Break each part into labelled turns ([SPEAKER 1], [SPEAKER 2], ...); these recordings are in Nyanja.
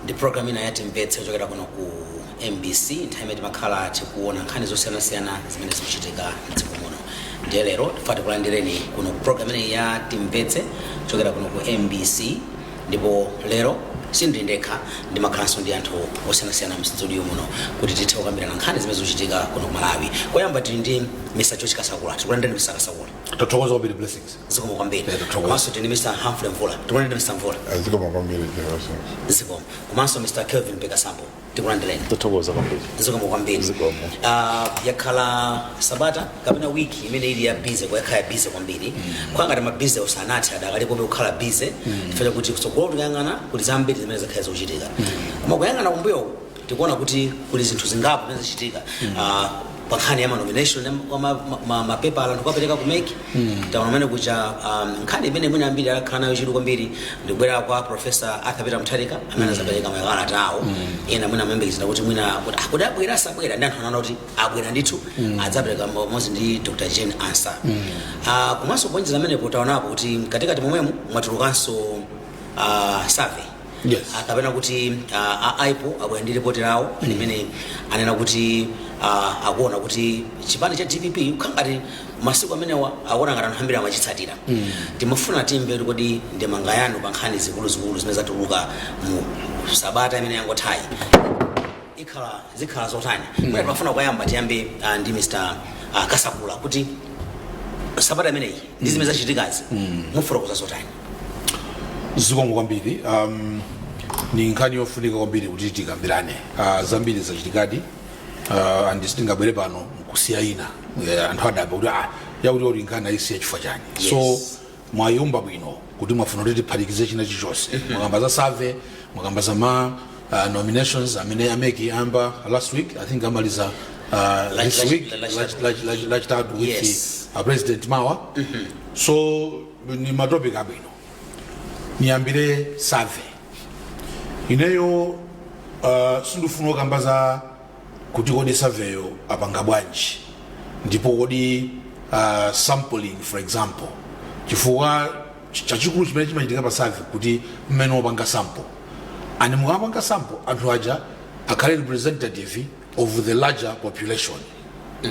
[SPEAKER 1] ndi program ina ya timvetse kuchokera kuno ku mbc nthawi imene timakhala tikuona nkhani zosiyanasiyana zimene zikuchitika mdziko muno ndiye lero tifuna tikulandireni kuno ku program inayi ya timvetse kuchokera kuno ku mbc ndipo lero sindili ndekha ndimakhalanso ndi anthu osiyanasiyana mstudio muno kuti tithe kukambirana nkhani zimene zikuchitika kuno ku malawi koyamba tili ndi mr george kasakula tikulandireni mr kasakula tathokoza kwambiri
[SPEAKER 2] blessings zikomo kwambiri Yeah,
[SPEAKER 1] tathokoza. komanso tili ndi mr humphrey mvula tikulandireni mr mvula a zikomo kwambiri
[SPEAKER 3] jehoso zikomo
[SPEAKER 1] komanso mr kelvin pekasambo tikulandireni tathokoza
[SPEAKER 4] kwambiri zikomo kwambiri
[SPEAKER 1] Zikomo.
[SPEAKER 4] Ah,
[SPEAKER 1] yakhala sabata kapena wiki imene ili ya busy yakhala ya busy kwambiri kwa ngati mabusy usanathe adakalipobe kukhala busy chifukwa chakuti kutsogolo tikayang'ana kuli zambiri zimene zakhala zikuchitika koma kuyang'ana kumbuyo tikuona kuti kuli zinthu zingapo zimene zachitika Ah, pankhani ya manomination ya ma- ma- ma- ma- mapepala anthu kuwapereka ku mec taona mmene kuja um, nkhani imene mwina ambiri akhala nayo chidwi kwambiri ndikubwera kwa profesa arthur peter mutharika amene azapereka makalata awo ena mwina amayembekezera kuti mwina kuti ah, kuti abwera asabwera ndi anthu anaona kuti abwera ndithu adzapereka pamodzi ndi dr jane ansah Ah, komanso kuonjeza amenepo taonapo kuti mkatikati momwemo mwatulukanso ah, survey Yes.
[SPEAKER 2] Ah, kapena
[SPEAKER 1] kuti ah, a ipor abwera ndi ripoti lawo limene anena kuti ah, akuona kuti chipani cha dpp kukhala ngati masiku amenewa akuona ngati anthu ambiri amachitsatira timafuna timve kuti kodi ndemanga yanu pa nkhani zikuluzikulu zimene zatuluka mu sabata imene yangothayi ikhala zikhala zotani mwina timafuna kuyamba tiyambe ah, ndi mr ah, kasakula kuti sabata imeneyi ndi zimene zachitikazi mufotokoza zotani
[SPEAKER 2] zikomo kwambiri um, ni nkhani yofunika kwambiri kuti tikambirane uh, zambiri zachitikadi uh, and sitingabwere pano nkusiya ina Eh, anthu adabwa kuti ah, yakuti oti nkhani ayisiya chifukwa chani Yes. so mwayamba bwino kuti mwafuna kuti tiphatikize china chilichonse mwakamba za survey mwakamba za ma uh, nominations amene a mec ayamba last week i think amaliza uh, this lach- week lach- lach- lach- lach- lachitatu with Yes. the, uh, president mawa so ni matopic abwino niyambire survey ineyo uh, sindifuna kukamba za kuti kodi surveyyo apanga bwanji ndipo kodi uh, sampling for example chifukwa ch- chachikulu chimene chimachitika pa survey kuti mmene wopanga sample and mukamapanga sample anthu aja akhale representative of the larger population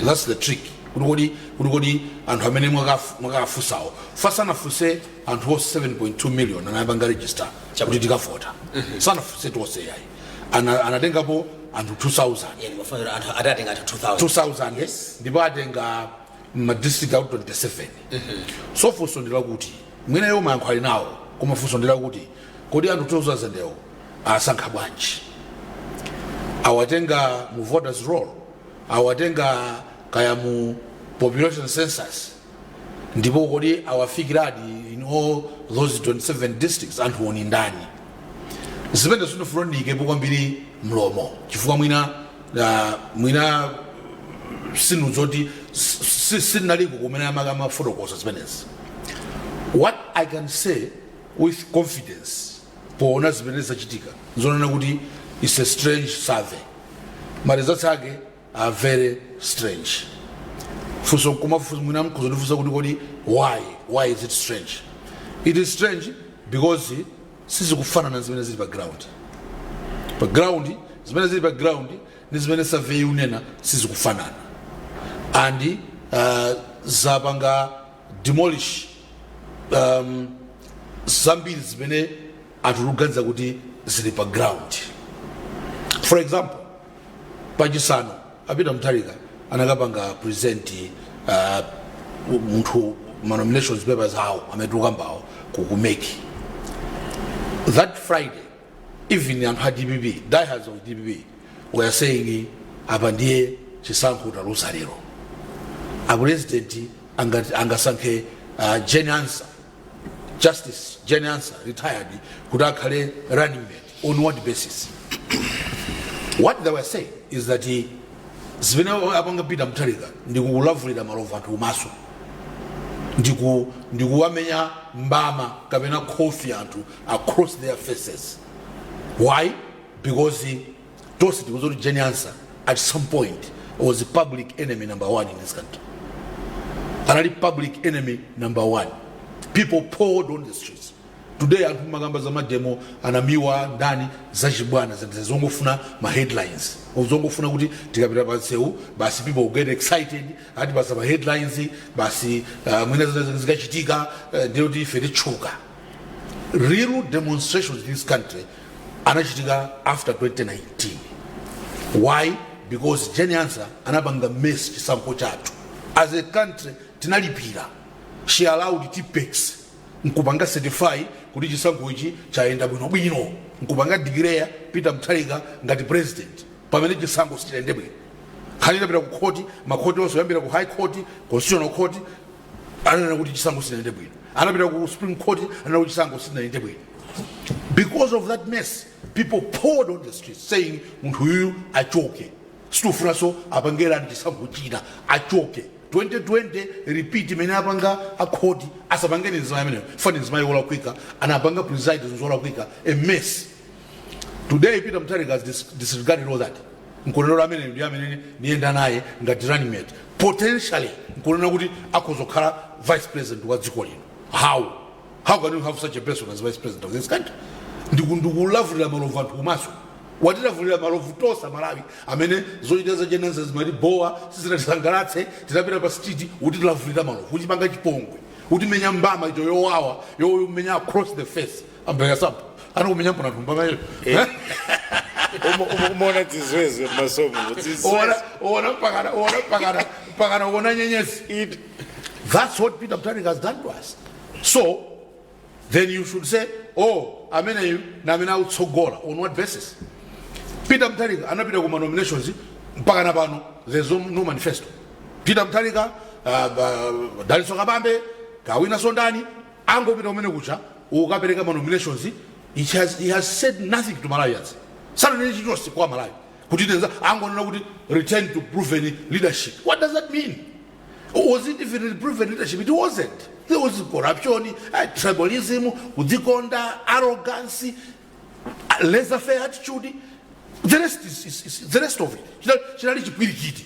[SPEAKER 2] that's the trick kuti kodi kuti kodi anthu amene mwakaf- mwakafunsawo paja sanafunse anthu onse 7.2 million anapanga register kuti tikavota sanafunse tonse yayi Ana- anatengapo anthu 2000 Yeah, ndimafanira anthu atatenga anthu 2000 2000 ndipo awatenga mmadistrict out 27 so funso ndi lakuti mwina iwo mayankho ali nawo koma funso ndi lakuti kodi anthu 2000 wo awasankha bwanji awatenga mu voters roll awatenga kaya mu population census ndipo kodi awafikiradi in all those 27 districts anthu wo ndi ndani zimenezo sindifuna ndiyikepo kwambiri mlomo chifukwa mwina uh, mwina sinu zoti sinaliko kumene amaka amafotokoza zimenezi what i can say with confidence poona zimene zachitika nzonena kuti its a strange survey ma results ake are very strange funso nkumafunsa mwina mudzandifunsa kuti kodi why why is it strange it is strange because sizikufanana zimene zili pa ground pa ground zimene zili pa ground ndi zimene survey ikunena sizikufanana and uh, zapanga demolish um, zambiri zimene anthu tikuganiza kuti zili pa ground for example pachisanu a peter mutharika anakapanga present uh, munthu ma nomination papers awo amene tikukambawo ku mec that friday even anthu a dpp diehards of dpp were saying apa ndiye chisankho taluza lero apresident angasankhe uh, jane ansah justice jane ansah retired kuti akhale running mate on what basis what they were saying is that he, zimene apanga peter mutharika ndikuwalavulira malovu anthu kumaso ndikuwamenya mbama kapena khofi anthu across their faces why because tonse tikudziwa kuti jane ansah at some point was a public enemy number one in this country anali public enemy number one people poured on the streets today anthu amakamba za mademo anamiwa ndani zachibwana zinthu zongofuna ma headlines zongofuna kuti tikapita pa nsewu basi people will get excited atipatsa ma headlines basi uh, mwina zina zikachitika uh, ndiye kuti ife titchuka real demonstrations in this country anachitika after 2019 why because jane ansah anapanga mess chisankho chathu as a country tinalipira she allowed tippex nkupanga certify kuti chisankho ichi chayenda bwinobwino nkupanga declare peter mutharika ngati president pamene chisankho sichidayende bwino nkhani itapita ku khoti makhoti onse oyambira ku high court constitutional court ananena kuti chisankho sinayende bwino anapita ku supreme court ananena kuti chisankho sinayende bwino because of that mess people poured on the streets saying munthu uyuyu achoke sitikufunanso apangenso chisankho china achoke 2020 repeat imene anapanga akhoti asapange ndi mzimayi ameneyo chifukwa ndi mzimayi wolakwika anapanga preside zolakwika a mess Today Peter Mutharika has dis disregarded all that. Nkunena kuti ameneyo ndi amene ndiyenda naye ngati running mate. Potentially nkunena kuti akhoza kukhala vice president wa dziko lino. How? How can you have such a person as vice president of this country? Ndi kulavulira malovu anthu kumaso. watilavulira malovu tonse amalawi amene zochita za Jane Ansah zimatibowa sizinatisangalatse tinapita pa street kutilavulira malovu kutipanga chipongwe kutimenya mbama iyo yowawa yomenya across the face ambayasamba anokumenya mpona thumba mayo
[SPEAKER 3] umaona dzizwezwe mmasomo ona pakana ona
[SPEAKER 2] pakana pakana ona nyenyezi It- That's what Peter Mutharika has done to us. So, then you should say, oh, ameneyu na amene autsogola. On what basis? Peter Mutharika anapita kuma nominations mpaka na pano there's no no manifesto. Peter Mutharika, uh, uh, Dalitso Kabambe, Kawina Sondani, Angopita kumene kuja kukapereka ma nominations it has, he has said nothing to Malawians sananene chilichonse kwa Malawi kuti nenza angonena kuti return to proven leadership what does that mean was it even proven leadership it wasn't there was corruption eh, tribalism kudzikonda arrogance laissez faire attitude the rest is, is, is the rest of it China- chinali chipwirikiti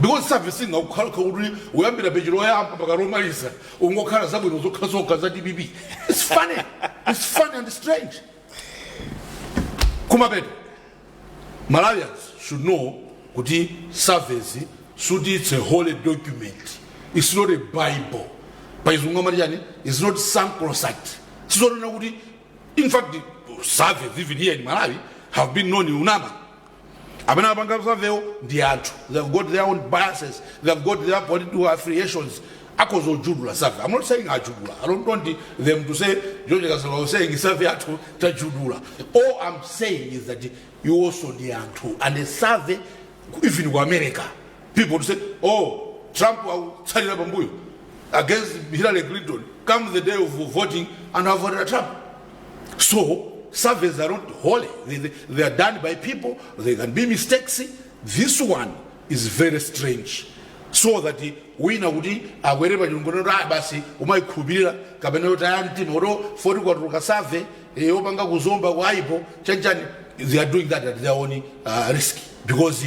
[SPEAKER 2] because survey singakhale kuti uyambira peji loyamba mpaka lomaliza kungokhala zabwino zokhazokha za dpp its funny its funny and strange kumapeto malawians should know kuti survey sikuti its a holy document its not a bible pachizungu amati chani its not sacrosanct sizonena kuti in fact surveys even here in malawi have been known kunama amene apanga savewo ndi anthu they have got their own biases they have got their political affiliations akhoza ojudula save i'm not saying ajudula i don't want them to say george kasala was saying save athu tajudula all i'm saying is that you also ndi anthu and a save even ku america people say oh trump akutsalira pambuyo against hillary clinton come the day of voting anthu avotera trump so surveys are not holy they, they, they are done by people they can be mistakes this one is very strange so that wina kuti akwere pa chulu kunena kuti ah basi kumayikhulupirira kapena kutaya mtima poti kwatuluka survey yopanga ku zomba kwa ipor chanchani they are doing that at their own uh, risk because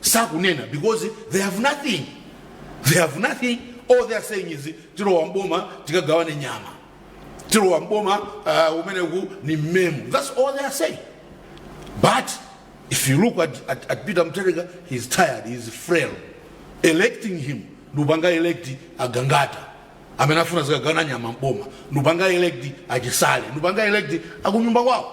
[SPEAKER 2] sakunena because they have nothing they have nothing all they are saying is tilowa mboma tikagawane nyama tilowa mboma uh, kunena kuti ndi mmemu that's all they are saying but if you look at, at, at peter mutharika he's tired he's frail electing him nkupanga elect agangata amene afuna azikagawana nyama mboma nkupanga elect achisale nkupanga elect akunyumba kwawo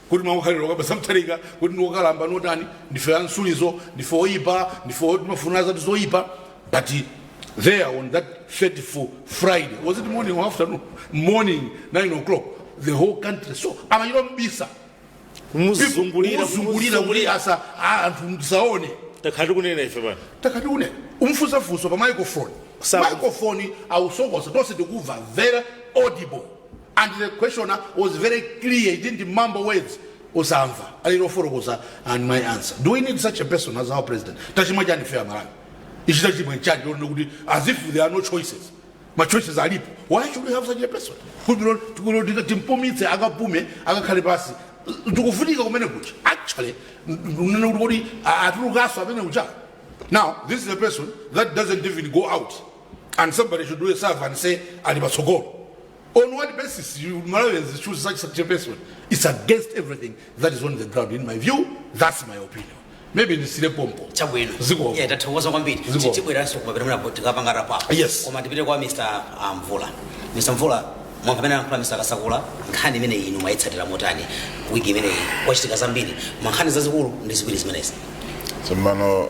[SPEAKER 2] kuti mwakukhalira okalamba samathalika kuti ndi okalamba notani ndife amtsilizo ndife oyipa ndife o- timafunira zathu zoyipa but there on that 34 friday was it morning or afternoon morning 9 o'clock the whole country so amachita mbisa kumuzungulira kuzungulira kuti asa a- anthu ndisaone takhala tikunena ife pano takati une umfusa funso pa microphone Sawa. microphone awusokosa tonse tikuva very audible and the questioner was very clear he didn't mumble words osamva ali kufotokoza and my answer do we need such a person as our president tachimwa chani ife amalawi ichi tachimwa chani lerolino kuti as if there are no choices machoices alipo why should we have such a person kuti timpumitse akapume akakhale pansi tikufunika kumene kucha actually unene kuti kodi atulukanso amene kucha now this is a person that doesn't even go out and somebody should do a survey and say ali patsogolo on what basis you malawians choose such, such a person it's against everything that is on the ground in my view that's my opinion maybe ndisiyire pompo chabwino Ziko. yeah
[SPEAKER 1] tathokoza kwambiri Ziko. tibweranso kumapeto mwina tikapanga wrap up Yes. koma tipite kwa
[SPEAKER 2] mr
[SPEAKER 1] ah, mvula mr mvula mwamva zimene anakamba mr kasakula nkhani imene inu mwayitsatira motani wiki imeneyi kwachitika zambiri mankhani zazikulu ndi ziwiri zimenezi tsopano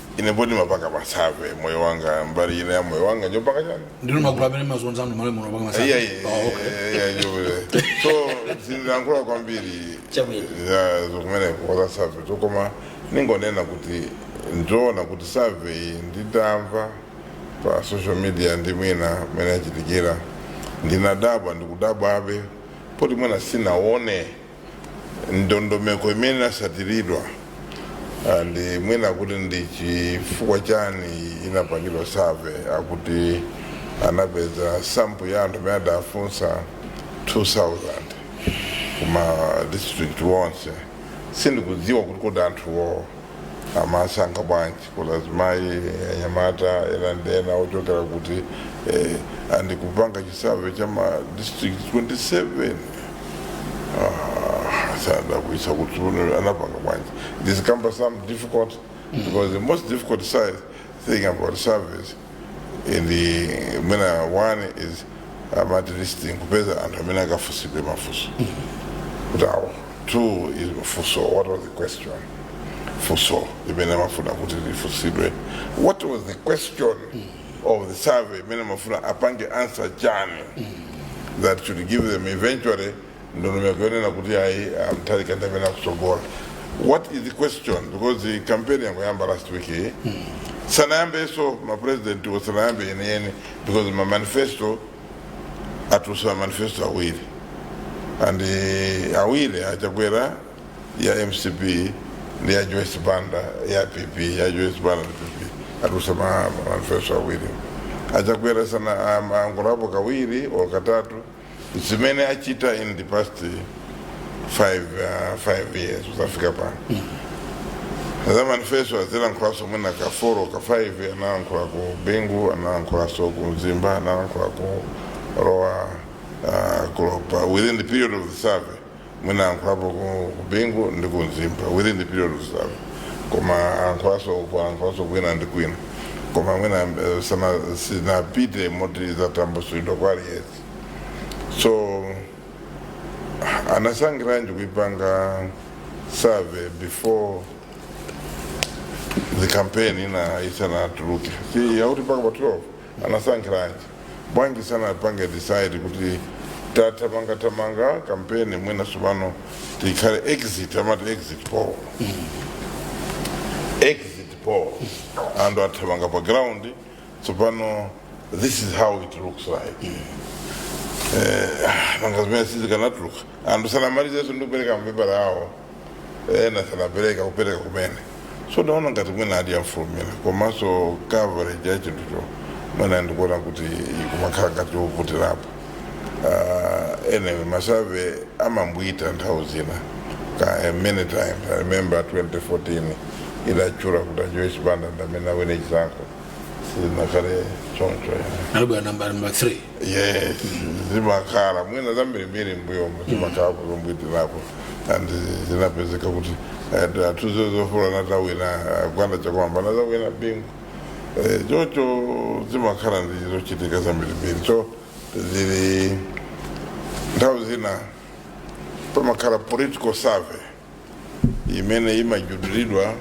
[SPEAKER 1] ine poti
[SPEAKER 4] ndimapanga ma survey moyo wanga mbali ina ya moyo wanga ndi yopanga chani ndinu magulu amene mumazunza
[SPEAKER 2] anthu mmalawi muno kupanga ma survey Iya, iya, Oh, okay. iya, iya,
[SPEAKER 4] ndi yopanga. so sindilankhula kwambiri Chabwino. za-
[SPEAKER 1] za
[SPEAKER 4] kumeneko za survey koma ningonena kuti ndi zoona kuti survey iyi nditamva pa social media ndi mwina mmene yachitikira ndinadabwa ndikudabwabe poti mwina sindinaone ndondomeko imene inatsatiridwa ah, ndi mwina kuti ndi chifukwa chani inapangidwa survey akuti anapeza sample ya anthu amene adawafunsa 2000 kuma district wonse sindikudziwa kuti kodi anthuwo amawasankha bwanji kaya azimayi anyamata ena ndi ena ochokera kuti eh, ndi kupanga chisurvey cha ma district 27 ah, sindikudziwa kuti iwo anapanga bwanji this cumbersome difficult because the most difficult side thing about surveys and eh, mwina one is um, at least kupeza anthu amene akafunsidwe mafunso kuti awo two is funso what was the question funso imene amafuna kuti lifunsidwe what was the question of the survey imene amafuna apange answer chani that should give them eventually ndondomeko yonena kuti ayi, ah, mutharika ndi amene akutsogola what is the question because campaign yangoyamba last week yi sanayambenso mapresidentiwo sanayambe yeniyeni because mamanifesto atulutsa mamanifesto awiri and eh, awiri achakwera ya mcp ndi ya joyce banda ya pp ya joyce banda ndi pp atulutsa ma- mamanifesto awiri achakwera sana ayankhulapo kawiri or katatu zimene achita in the past five, uh, five years kudzafika pano za manifesto azilankhulanso mwina ka foro ka five analankhula ku bingu analankhulanso ku mzimba analankhula ku roa uh, kulopa within the period of the survey mwina anthu apo ku- ku bingu ndi ku mzimba within the period of survey koma anthu anso ku anthu anso kwina ndi kwina koma mwina eh, sana- sinapite moti zatambasulidwa kwa aliyense so anasankhiranji kuipanga survey before the campaign ina isanatuluke si yakuti mpaka pa 12 anasankhiranji bwanji sanapange decide kuti tathamangathamanga kampeni mwina tsopano tikhale exit amati exit poll exit poll anthu athamanga pa ground tsopano this is how it looks like eh, ah, nanga zimene sizikanatuluka anthu sanamalizenso ndi kupereka mapepala awo ena sanapereka kupereka kumene so ndaona ngati mwina adafulumira komanso coverage ya chinthucho mwina ndikuona kuti kumakhala ngati yovutirapo uh, anyway masurvey amaphwita nthawi zina ka eh, many times i remember 2014 idatchula kuti ajoyce banda ndamene awine chisankho sinakhale choncho yeah. anabwera namba namba
[SPEAKER 2] 3
[SPEAKER 4] yes zimakhala mwina zambirimbiri mbuyomo zimakhala zombwitirapo and zinapezeka kuti eh, atuzo zofula sanawina eh, gwanda chakwamba anadzawina bingu Eh, choncho zimakhala ndi zochitika zambirimbiri so zili nthawi zina pamakhala political survey imene imajudulidwa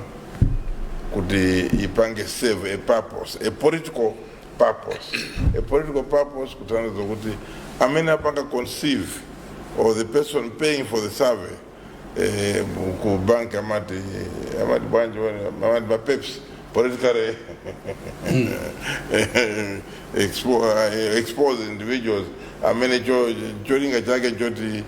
[SPEAKER 4] kuti ipange serve a purpose a political purpose a political purpose kutanthauza kuti amene apanga conceive or the person paying for the survey eh, ku bank amati amati bwanji wene- amati ma peps politically expo- eh, expose individuals amene cho- cholinga chake choti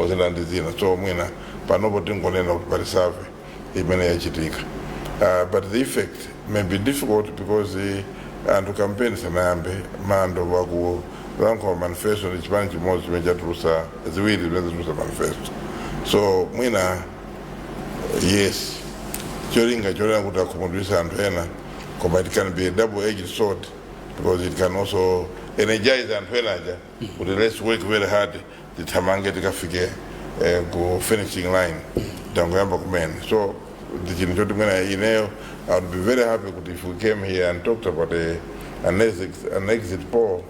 [SPEAKER 4] ozina ndi zina so mwina panopo tingonena kuti pali survey imene yachitika uh, but the effect may be difficult because uh, anthu kampeni sanayambe mando wakulankhula manifesto ndi chipani chimodzi chimene chatulusa ziwiri zimene zatulusa manifesto so mwina yes cholinga chonena kuti akhumudwisa anthu ena koma it can be a double edged sword because it can also energize anthu ena aja kuti let's work very hard tithamange tikafike eh, ku finishing line tangoyamba kumene so ndi chinthu choti mwina ineyo i would be very happy kuti if we came here and talked about a, an, exit, an exit poll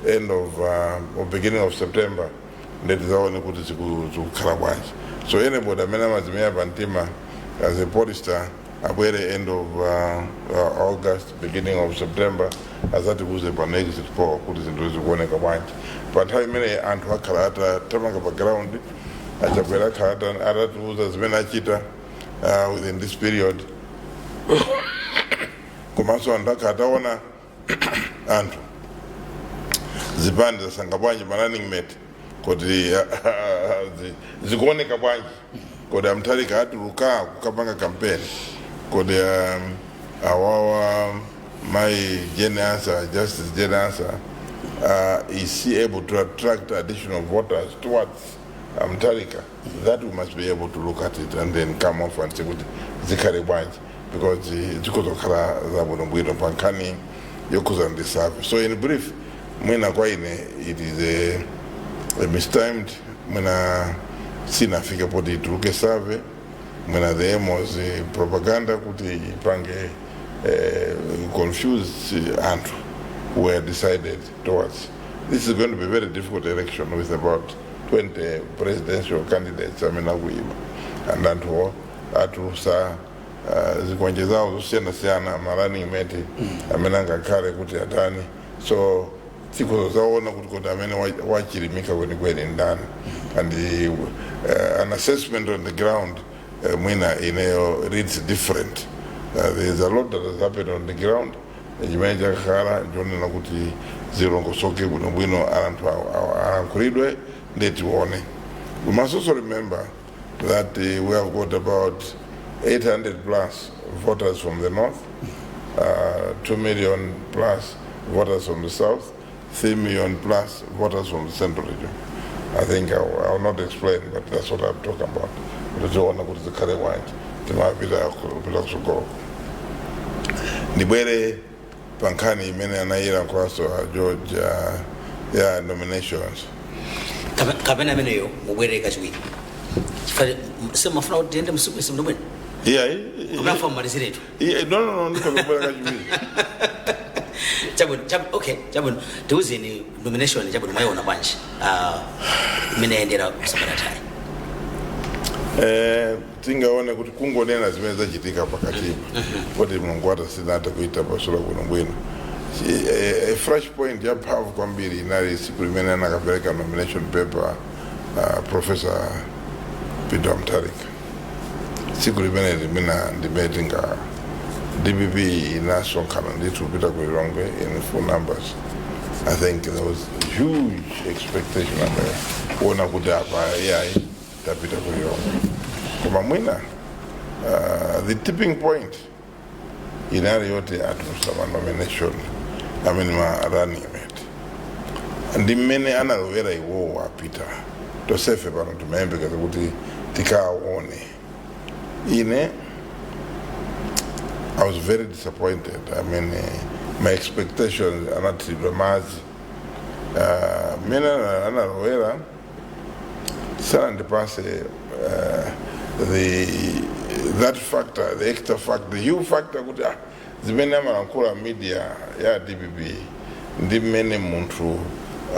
[SPEAKER 4] end of uh, or beginning of september nde tizaone kuti ziku- zikukhala bwanji so anybody amene amazimenya pa mtima as a pollster abwere end of uh, uh, august beginning of september azatiuze pano exit poll kuti zinthu zikuoneka bwanji pa nthawi imeneyi anthu akhala atathamanga pa ground a chakwera akhala ata- atatiuza zimene achita uh, within this period komanso anthu akhala ataona anthu zipani zasankha bwanji ma running mate kodi zi- zikuoneka bwanji kodi a mutharika atuluka kukapanga kampeni kodi um, awawa mayi jane ansah justice jane ansah uh, is she able to attract additional voters towards a mutharika that we must be able to look at it and then come off and say kuti zikhale bwanji because eh, zikhoza kukhala zabwinobwino pa nkhani yokhuza ndi survey so in brief mwina kwa ine it is a, a mistimed mwina sinafike poti ituluke survey mwina the aim was eh, propaganda kuti ipange eh, confuse eh, anthu were decided towards this is going to be a very difficult election with about 20 presidential candidates amene akuyima and anthuwo atulusa uh, zikwanje zawo zosiyanasiyana ma running mate amene angakhale kuti atani so tikhoza kuzaona kuti kodi amene wa- wachilimika kwenikweni ndani and uh, an assessment on the ground uh, mwina ineyo reads different uh, there is a lot that has happened on the ground chimene chakhala chonena kuti zilongosoke bwinobwino anthu awa- awa- alankhulidwe ndiye tione we must also remember that uh, we have got about 800 plus voters from the north uh, 2 million plus voters from the south 3 million plus voters from the central region. I think I will, I will not explain, but that's what I'm talking about. Ndizoona kuti zikhale bwanji mmene tikupita kusogolo ndibwere pa nkhani imene anayilankhulaso a george uh, ya nominations Kapa-
[SPEAKER 1] kapena ameneyo mubwerere kachiwiri Chifukwa- semafuna kuti tiyende msiku isi mndomwene iyayi
[SPEAKER 4] kunafa
[SPEAKER 1] mmaliziretu Iye- no no no
[SPEAKER 4] ndikhoza kubwera
[SPEAKER 1] kachiwiri chabwino chab- okay chabwino tiuzeni nomination chabwino mwayiona bwanji Ah, imene yayendera kusabaratani Eh,
[SPEAKER 4] tingaone kuti kungonena zimene zachitika pakatipa kuti mulungu wathu sinathe kuifotokoza bwinobwino Chi- eh, eh, flash point ya mphamvu kwambiri inali siku limene anakapereka nomination paper uh, professor peter mutharika tsiku limene limenelo ndimene tingati dpp inasonkhana ndithu kupita ku lilongwe in full numbers i think there was huge expectation amene kuona kuti apa ai tapita ku lilongwe koma mwina uh, the tipping point inali yoti atulutsa ma nomination a running mate ndi mmene analowera iwowo APM tonsefe pano timayembekeza kuti tikaone ine i was very disappointed i mean uh, my expectations anathiridwa madzi uh, mmene ana- analowera sanandipatse uh, the that factor the extra factor the you factor kuti ah, zimene amalankhula media ya dpp ndi mmene munthu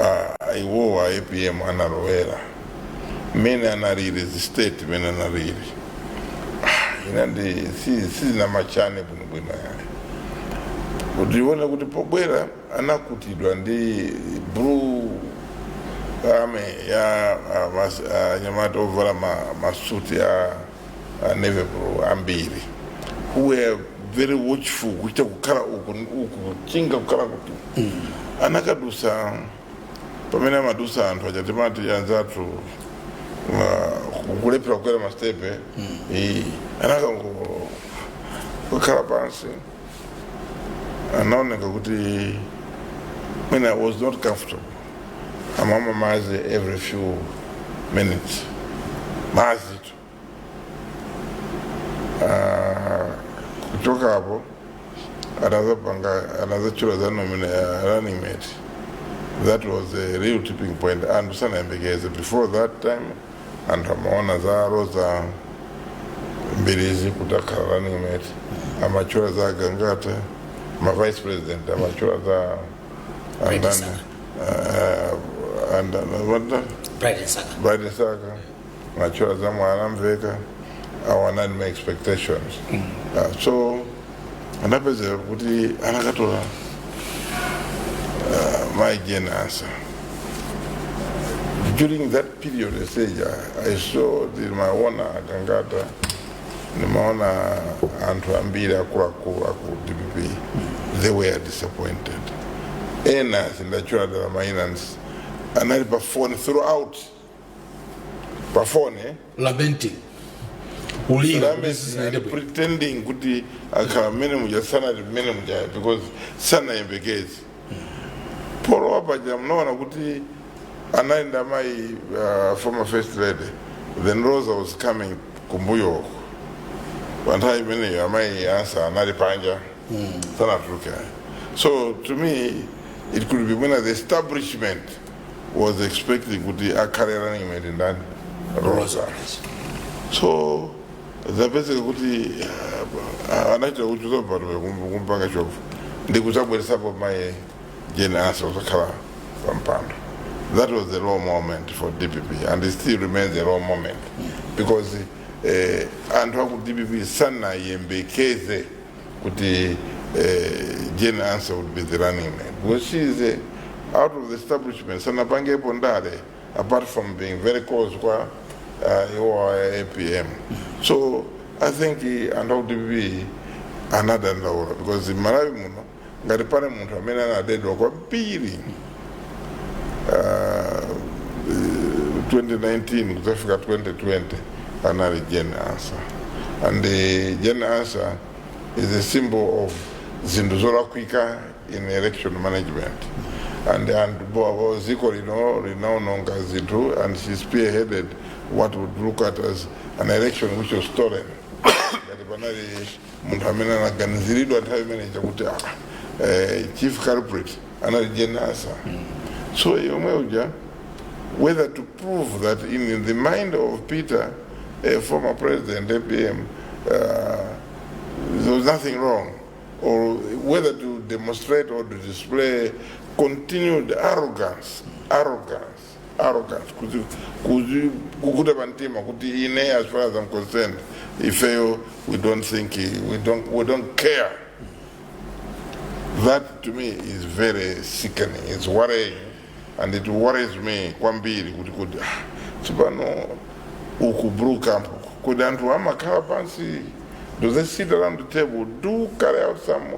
[SPEAKER 4] ah, iwowo a apm analowera mmene analili state imene analili Ah, ina ndi si- sizinamatchane bwinobwino yayi utaona kuti pobwera anakutidwa ndi blue army ya anyamata uh, ovala ma, masuti a uh, navy blue ambiri who were very watchful kuchita kukhala uku uku kuchinga kukhala kuti mm. anakadusa pamene amadusa anthu a chamba chimati anzathu kulephera kukwera masitepe mm. anakangokhala pansi anaoneka kuti mwina he was not comfortable amamwa madzi every few minutes madzi tu Ah, kuchoka apo anadzapanga anadzatchula za nomina ya running mate that was a real tipping point anthu sanayembekeze before that time anthu amaona za roza mbilizi kuti akhala running mate amatchula za gangata ma vice president amatchula za andani ah, andani wanda bright msaka bright msaka matchula za mwanamvekha awa anali ma expectations Ah, so anapezeka kuti anakatola uh, my Jane answer. During that period, I say, I saw the Maona Gangata, the Maona Antuambira Kuraku Aku DPP. They were disappointed. Enas in the children of Mainans, and I performed throughout pa
[SPEAKER 2] fone lamenting kulira That means kuti
[SPEAKER 4] sizinayende bwino pretending kuti akhala mmene muja sanali mmene muja because sanayembekeze polowa paja mnaona kuti anali ndi amayi uh, former first lady then roza was coming kumbuyoko pa nthawi imeneyo amayi ansah anali panja sanatuluke so to me it could be mwina the establishment was expecting kuti akhale running mate ndani roza so zapezeka kuti uh, anachita kuchuza batume kumpanga shove ndi kudzabweresapo mayi jane ansah kuzakhala pampando that was the low moment for dpp and it still remains a low moment because eh, anthu aku dpp sanayembekeze kuti eh, Jane Ansah would be the running mate because she is eh, out of the establishment sanapangepo ndale apart from being very close kwa uh, iwo a APM so I think eh, anthu a ku dpp anadandaula because Malawi muno ngati pali munthu amene anadedwa kwambiri ah, eh, 2019 kudzafika 2020 anali jane ansah and eh, jane ansah is a symbol of zinthu zolakwika in election management and and bo- bo- dziko lino linaononga zinthu and she spearheaded what would look at as an election which was stolen ngati panali munthu amene anaganiziridwa nthawi imene chakuti ah, eh, chief culprit anali jenasa so yomwe uja whether to prove that in the mind of peter a former president apm uh, there was nothing wrong or whether to demonstrate or to display continued arrogance arrogance arrogant kuzi- kuzi- kukuta pa mtima kuti ine as far as I'm concerned ifeyo we don't think we don't, we don't care that to me is very sickening it's worrying and it worries me kwambiri kuti kuti ah, tsopano uku brew camp uku, kodi anthu amakhala pansi do they sit around the table do carry out some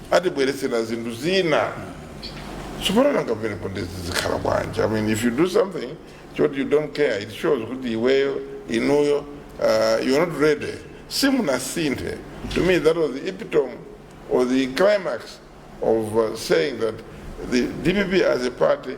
[SPEAKER 4] atibweretsera zinthu zina tsopano nanga pamenepo ndizikhala bwanji i mean if you do something choti you don't care it shows kuti iweyo inuyo uh, you're not ready simunasinthe to me that was the epitome or the climax of uh, saying that the dpp as a party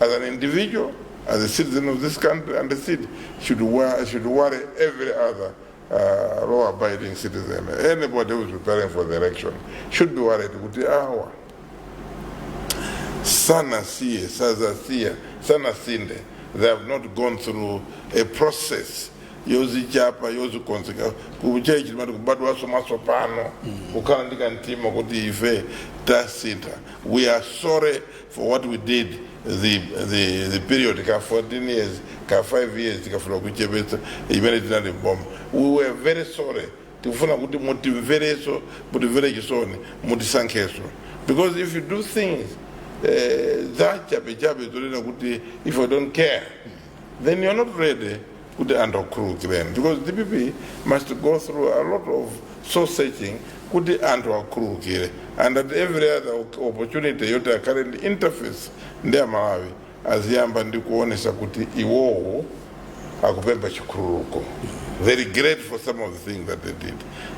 [SPEAKER 4] As an individual, as a citizen of this country, and as it should, wa- should worry every other uh, law abiding citizen. Anybody who is preparing for the election should be worried. Kuti awa sanasiye sazasiya sanasinthe they have not gone through a process yozichapa yozikonzeka kutchalitchi timati kubadwanso mwatsopano kukhala ndi kamtima kuti ife tasintha we are sorry for what we did the, the, the period ka 14 years ka 5 years tikafuna kuchepetsa imene tinali m'boma we were very sorry tikufuna kuti mutimverenso mutimvere chisoni mutisankhenso because if you do things eh, za chabechabe zonena kuti if i don't care then you're not ready kuti anthu akhululukireni because dpp must go through a lot of soul searching kuti anthu akhululukire and at every other op- opportunity yoti akhale ndi interface ndi amalawi aziyamba ndi kuonesa kuti iwowo akupempha chikhululuko they regret for some of the things that they did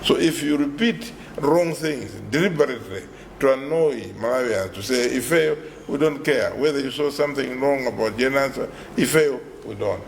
[SPEAKER 4] so if you repeat wrong things deliberately to annoy malawians to say ifeyo we don't care whether you saw something wrong about Jane Ansah ifeyo we don't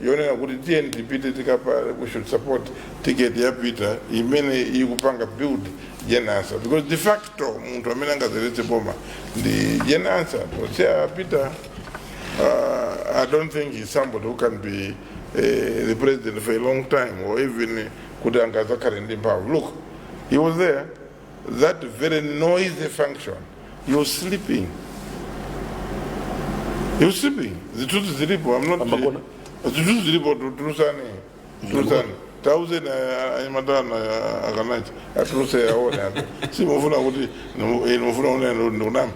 [SPEAKER 4] yonena kuti tiyeni tipite tikapange we should support ticket ya peter imene ikupanga build Jane Ansah because de facto munthu amene angayendetse boma ndi Jane Ansah posiya peter uh, i don't think he's somebody who can be uh, the president for a long time or even kuti angazakhale ndi mphamvu look he was there that very noisy function you sleeping you sleeping zitutu zilipo i'm not Pambakona. zitutu zilipo tu- tulusane tulusane tauze na anyamatana akanachi atuluse aone apo simufuna kuti nimufuna une ndikunama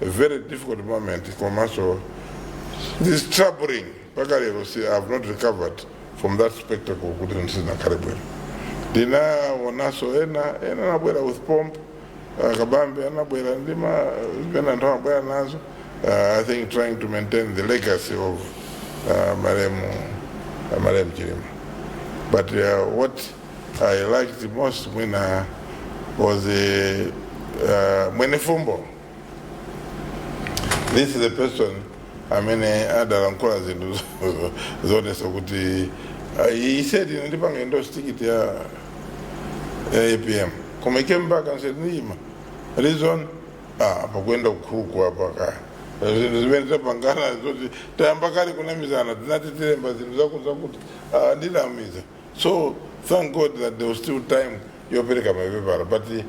[SPEAKER 4] very difficult moment komanso it's troubling mpaka lero I have not recovered from that spectacle kuti sindinakhale bwino ndinaonanso ena ena anabwera with pomp uh, kabambe anabwera ndi ma zimene anthu amabwera nazo uh, i think trying to maintain the legacy of uh, malemu uh, malemu chilima but uh, what I like the most mwina was the uh, Mwenefumbo. This is the person amene adalankhula zinthu zo- zoonesa kuti uh, he said ine ndipanga endorse ticket ya ya APM koma he came back and said ndi ma reason ah apa kuenda kukhuku apa ka zinthu zimene tapangana zoti tayamba kale kunamizana tinati tilembe zinthu zakuti zakuti ah ndinamiza So thank God that there was still time yopereka mapepala but uh,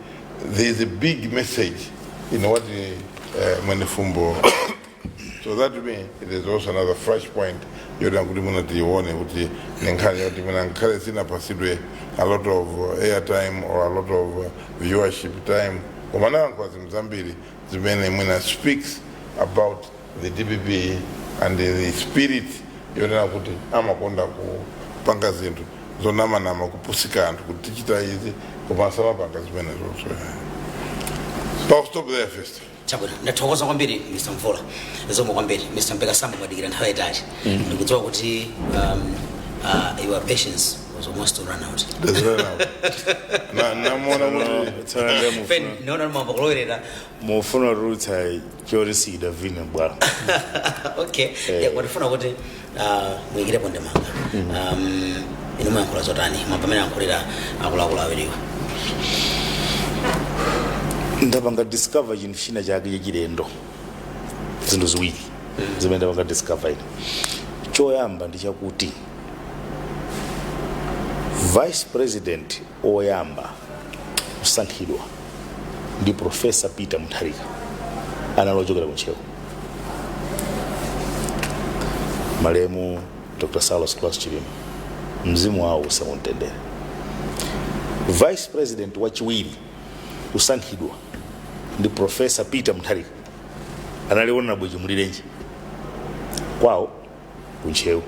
[SPEAKER 4] there is a big message in what uh, Mwenefumbo so that to me it is also another fresh point yoti kuti mwina tiione kuti ndi nkhani yoti mwina nkhani sinapatsidwe a lot of uh, airtime or a lot of uh, viewership time koma anayankhula zinthu zambiri zimene mwina speaks about the dpp and the spirit yonena kuti amakonda kupanga zinthu zonamanama kupusitsa anthu kuti tichita izi koma osamapanga zimene zo I'll stop there first chabwino ndathokoza
[SPEAKER 1] kwambiri mr mvula zikomo kwambiri mr mpeka sambo mwadikira nthawi yayitali ndikudziwa kuti um, uh, your patience was almost to run out That's right now.
[SPEAKER 4] Na- namuona kuti
[SPEAKER 1] Tsono ndiye mufuna. Pen- naona mambo kulowerera mufuna
[SPEAKER 3] kutulutsa choti sichidavine bwalo
[SPEAKER 1] okay yeah, amafuna kuti uh, muyikirepo ndemanga um, inu muyankhula zotani mwa mmene ayankhulira akuluakulu awiriwo
[SPEAKER 3] ndapanga discover chinthu china chake chachilendo zinthu ziwiri zimene ndapanga discover ine choyamba ndi chakuti vice president oyamba kusankhidwa ndi profesa peter mutharika anali ochokera ku ntcheu malemu dr saulos klaus chilima mzimu wawo uuse mumtendere vice president wachiwiri kusankhidwa ndi profesa peter mutharika anali honorable chimulirenji kwawo ku ntcheu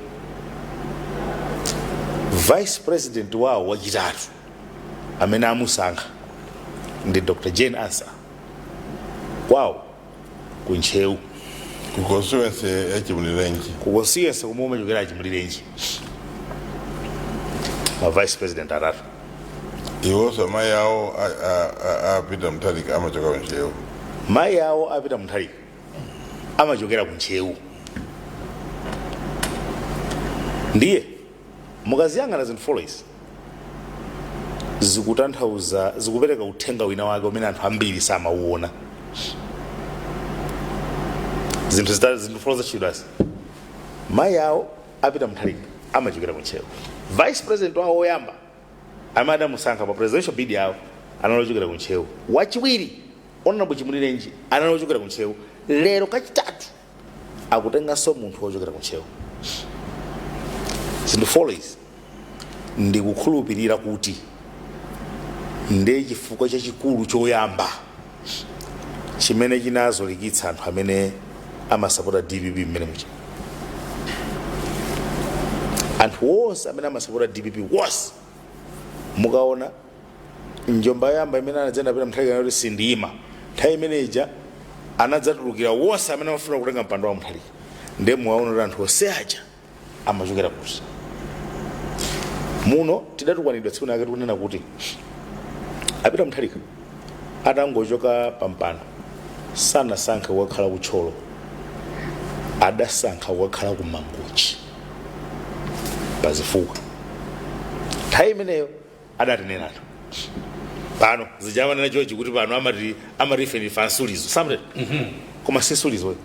[SPEAKER 3] vice president wawo wachitatu amene amusankha ndi dr jane ansah kwawo ku ntcheu ku
[SPEAKER 4] constituency ya chimulirenji ku constituency komwe
[SPEAKER 3] kumachokera chimulirenji ma vice president atatu
[SPEAKER 4] iwonso amayi awo a- a- a- a peter mutharika amachokera ku ntcheu mayi awo
[SPEAKER 3] a peter mutharika amachokera ku ntcheu ndiye Mukaziyang'ana zinthu 4 izi zikutanthauza, zikupereka uthenga wina wake umene anthu ambiri samauona. Zinthu zitatu, zinthu 4 zatchulidwazi, mayi awo a Peter Mutharika amachokera ku Ntcheu, vice president wawo woyamba amene adamusankha pa presidential bid yawo anali ochokera ku Ntcheu, wachiwiri Hon. Chimulirenji anali ochokera ku Ntcheu, lero kachitatu akutenganso munthu wochokera ku ntcheu zinthu 4 izi ndikukhulupirira kuti ndi chifukwa chachikulu choyamba chimene chinazolikitsa anthu amene amasapota dpp mmene muja anthu wonse amene amasapota dpp onse mukaona njomba yoyamba imene anadza nayo a peter mutharika kuti sindiyima nthawi imene ija anadzatulukira wonse amene amafuna kutenga mpando wa mutharika ndiye muwaona kuti anthu onse aja amachokera kuti muno tidatukwanidwa tsiku lake tikunena kuti a peter mutharika atangochoka pampando sanasankhe kukakhala ku thyolo adasankha kukakhala ku mangochi pazifukwa nthawi imeneyo adatinena anthu pano zija amanena chochi kuti pano amati amati ife ndife ansulizo samre koma si nsulizo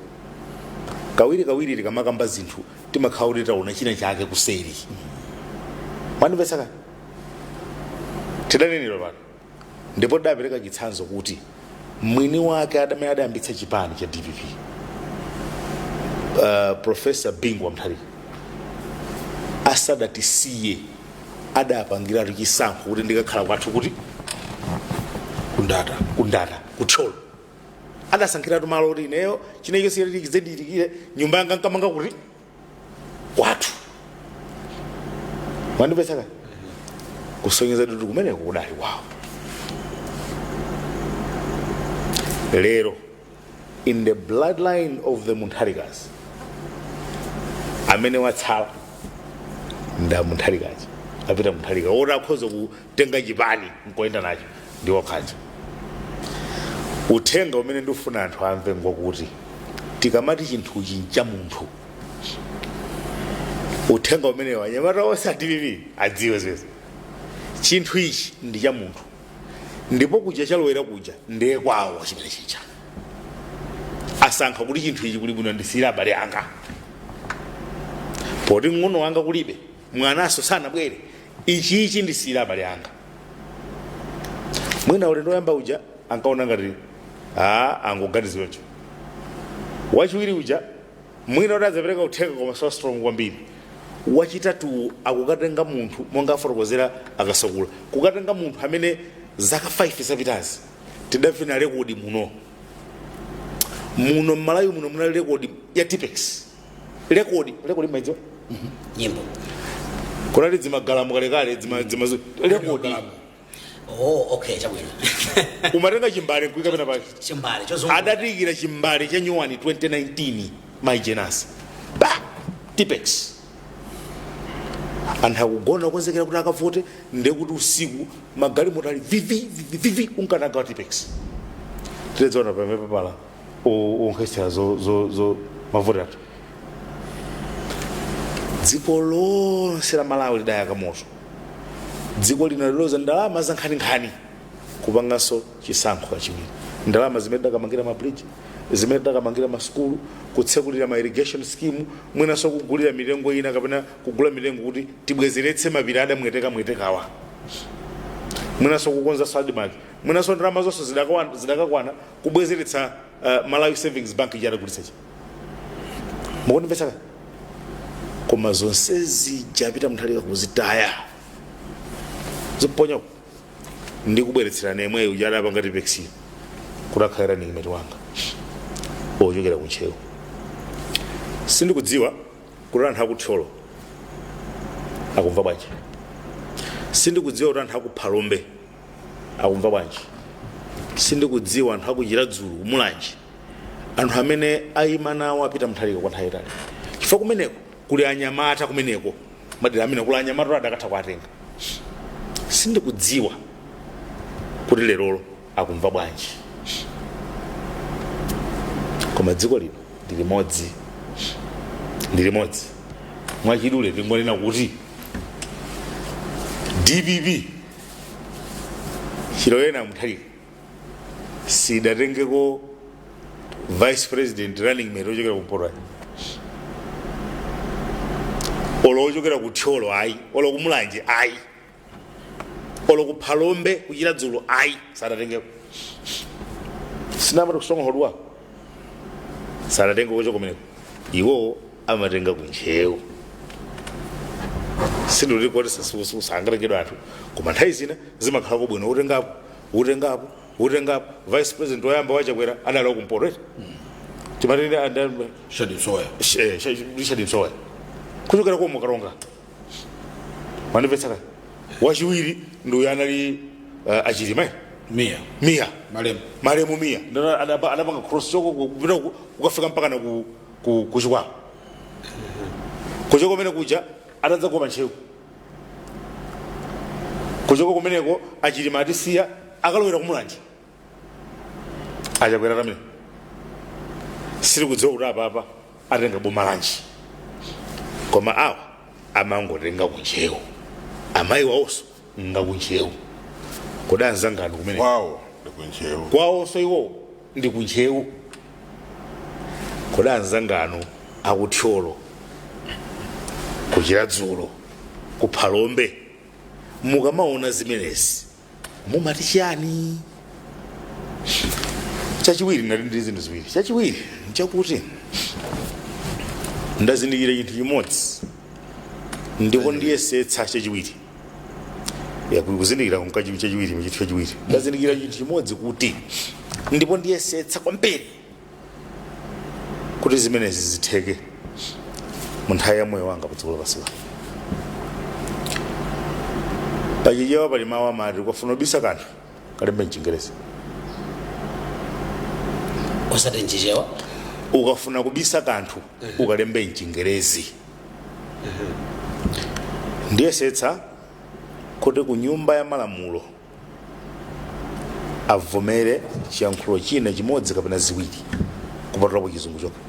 [SPEAKER 3] kawiri kawiri tikamakamba zinthu timakhala kuti taona china chake kuseri mwandimvetsa kani tidanenedwa pano ndipo tidapereka chitsanzo kuti mwini wake adamene adayambitsa chipani cha dpp uh, profesa bingu wa mutharika asadatisiye adapangiratu chisankho kuti ndikakhala kwathu kuti ku ndata ku ndata ku thyolo adasankhiratu malo kuti ineyo chilichonse chidzandichitikire nyumba yanga nkamanga kuti kwathu mwandimvetsa ka kusonyeza kuti kumeneko kudali kwawo lero in the bloodline of the mutharikas amene watsala nda mutharika aja apita mutharika oti akhoza kutenga chipani nkuyenda nacho ndi okhaja uthenga umene ndifuna anthu amve ngokuti tikamati chinthuchi ncha munthu uthenga umenewo anyamata onse a dpp adziwe ziwezi chinthu ichi ndi cha munthu ndipo kuja chalowera kuja ndiye kwawo chimene chija asankha kuti chinthu ichi kuli bwino ndisiyire abale anga poti mng'ono wanga kulibe mwananso sanabwere ichi ichi ndisiyire abale anga mwina ulendo woyamba uja ankaona ngati a angoganiziranso wachiwiri uja mwina kuti adzapereka uthenga koma so strong kwambiri wachitatuwo akukatenga munthu monga afotokozera a kasakula kukatenga munthu amene zaka 5 zapitazi tidavina rekodi muno muno m'malawi muno munali rekodi ya tippex rekodi rekodi mumaidziwa nyimbo kunali dzimagalamu kalekale dzima- dzima- rekodi
[SPEAKER 1] oh okay chabwino
[SPEAKER 3] umatenga chimbale nkuika pena pake chimbale chozungu adatiyikira
[SPEAKER 1] chimbale
[SPEAKER 3] cha nyuwani 2019 mai jane ansah ba tippex anthu akugona okonzekera kuti akavote ndekuti usiku magalimoto ali vivi vivi, vivi unkanaga wa tippex tidzaona pamapepala onkhetsera mavoti athu dziko lonse la malawi lidayaka moto dziko lino linaluza ndalama zankhaninkhani kupanganso chisankho kachiwiri ndalama zimene tidakamangira mabridge zimene tidakamangira masukulu kutsekulira ma irrigation scheme mwinanso kugulira mitengo ina kapena kugula mitengo kuti tibwezeretse mapiri adameteka metekawa mwinanso kukonza admarc mwinanso ndalama zonse zidakawa- zidakakwana kubwezeretsa uh, malawi savings bank ija adagulitsa ija mukundimvetsa koma zonse zija peter mutharika kuzitaya ziponyako ndi kubweretserana yemweyo uja adapanga tippex kuti akhale running mate wanga ochokera kuntcheu sindikudziwa kuti anthu akuthyolo akumva bwanji sindikudziwa kuti anthu akuphalombe akumva bwanji sindikudziwa anthu akuchiradzulu kumulanje anthu amene ayima nawo a peter mutharika kwa nthawi yaitali chifukwa kumeneko kuli anyamata kumeneko madera amene kuli anyamata adakatha kuwatenga sindikudziwa kuti lerolo akumva bwanji koma dziko lino ndi limodzi ndi limodzi mwachidule tingonena kuti dpp chilowereni mutharika sidatengeko vice president running mate ochokera kumpoto ayi olo ochokera ku thyolo ayi olo kumulanje ayi olo ku phalombe kuchiradzulu ayi sadatengeko sinamati kusonga hodwa sadatengeko ochoka kumeneko iwo amatenga ku ntcheu sindikuti kuti sangatengedwe anthu koma nthawi zina zimakhalako bwino utengapo utengapo utengapo vice president woyamba wachakwera adali wakumpoto eti timati ndani richard msowoya kuchokera kwa mukaronga mwandimvetsa wachiwiri ndi uyo anali uh, achilima eh? mia mia malemu malemu mia ndiwo adapa- adapanga cross kuchoka kupita ku- kukafika mpaka na ku ku ku chikwawa kuchoka kumenekuja atadzagwa pa ntcheu kuchoka kumeneko achilima atisiya akalowera kumulanje achakwera pamene sindikudziwa kuti apapa atenga boma lanji koma awa amangotenga kuntcheu amayi wawonso ngakuntcheu kodi anzanganu kumene kwawo ndi
[SPEAKER 4] kuntcheu kwawonso
[SPEAKER 3] iwowo ndi ku ntcheu kodi anzanganu aku thyolo ku chiradzulu ku phalombe mukamaona zimenezi mumati chiyani chachiwiri ndati ndi zinthu ziwiri chachiwiri nchakuti ndazindikira chinthu chimodzi ndipo ndiyesetsa chachiwiri Ya, ku- kuzindikira komanso chinthu chachiwiri mu chinthu chachiwiri ndazindikira chinthu chimodzi kuti ndipo ndiyesetsa kwambiri kuti zimenezi zitheke mu nthawi ya moyo wanga padziko lapansi pano pachichewa pali mawu amati ukafuna kubisa kanthu kalembe mchingerezi
[SPEAKER 1] osati nchichewa ukafuna
[SPEAKER 3] kubisa kanthu ukalembe mchingerezi ndiyesetsa kuti ku nyumba ya malamulo avomere chiyankhulo china chimodzi kapena ziwiri kupatulapo chizungu chokha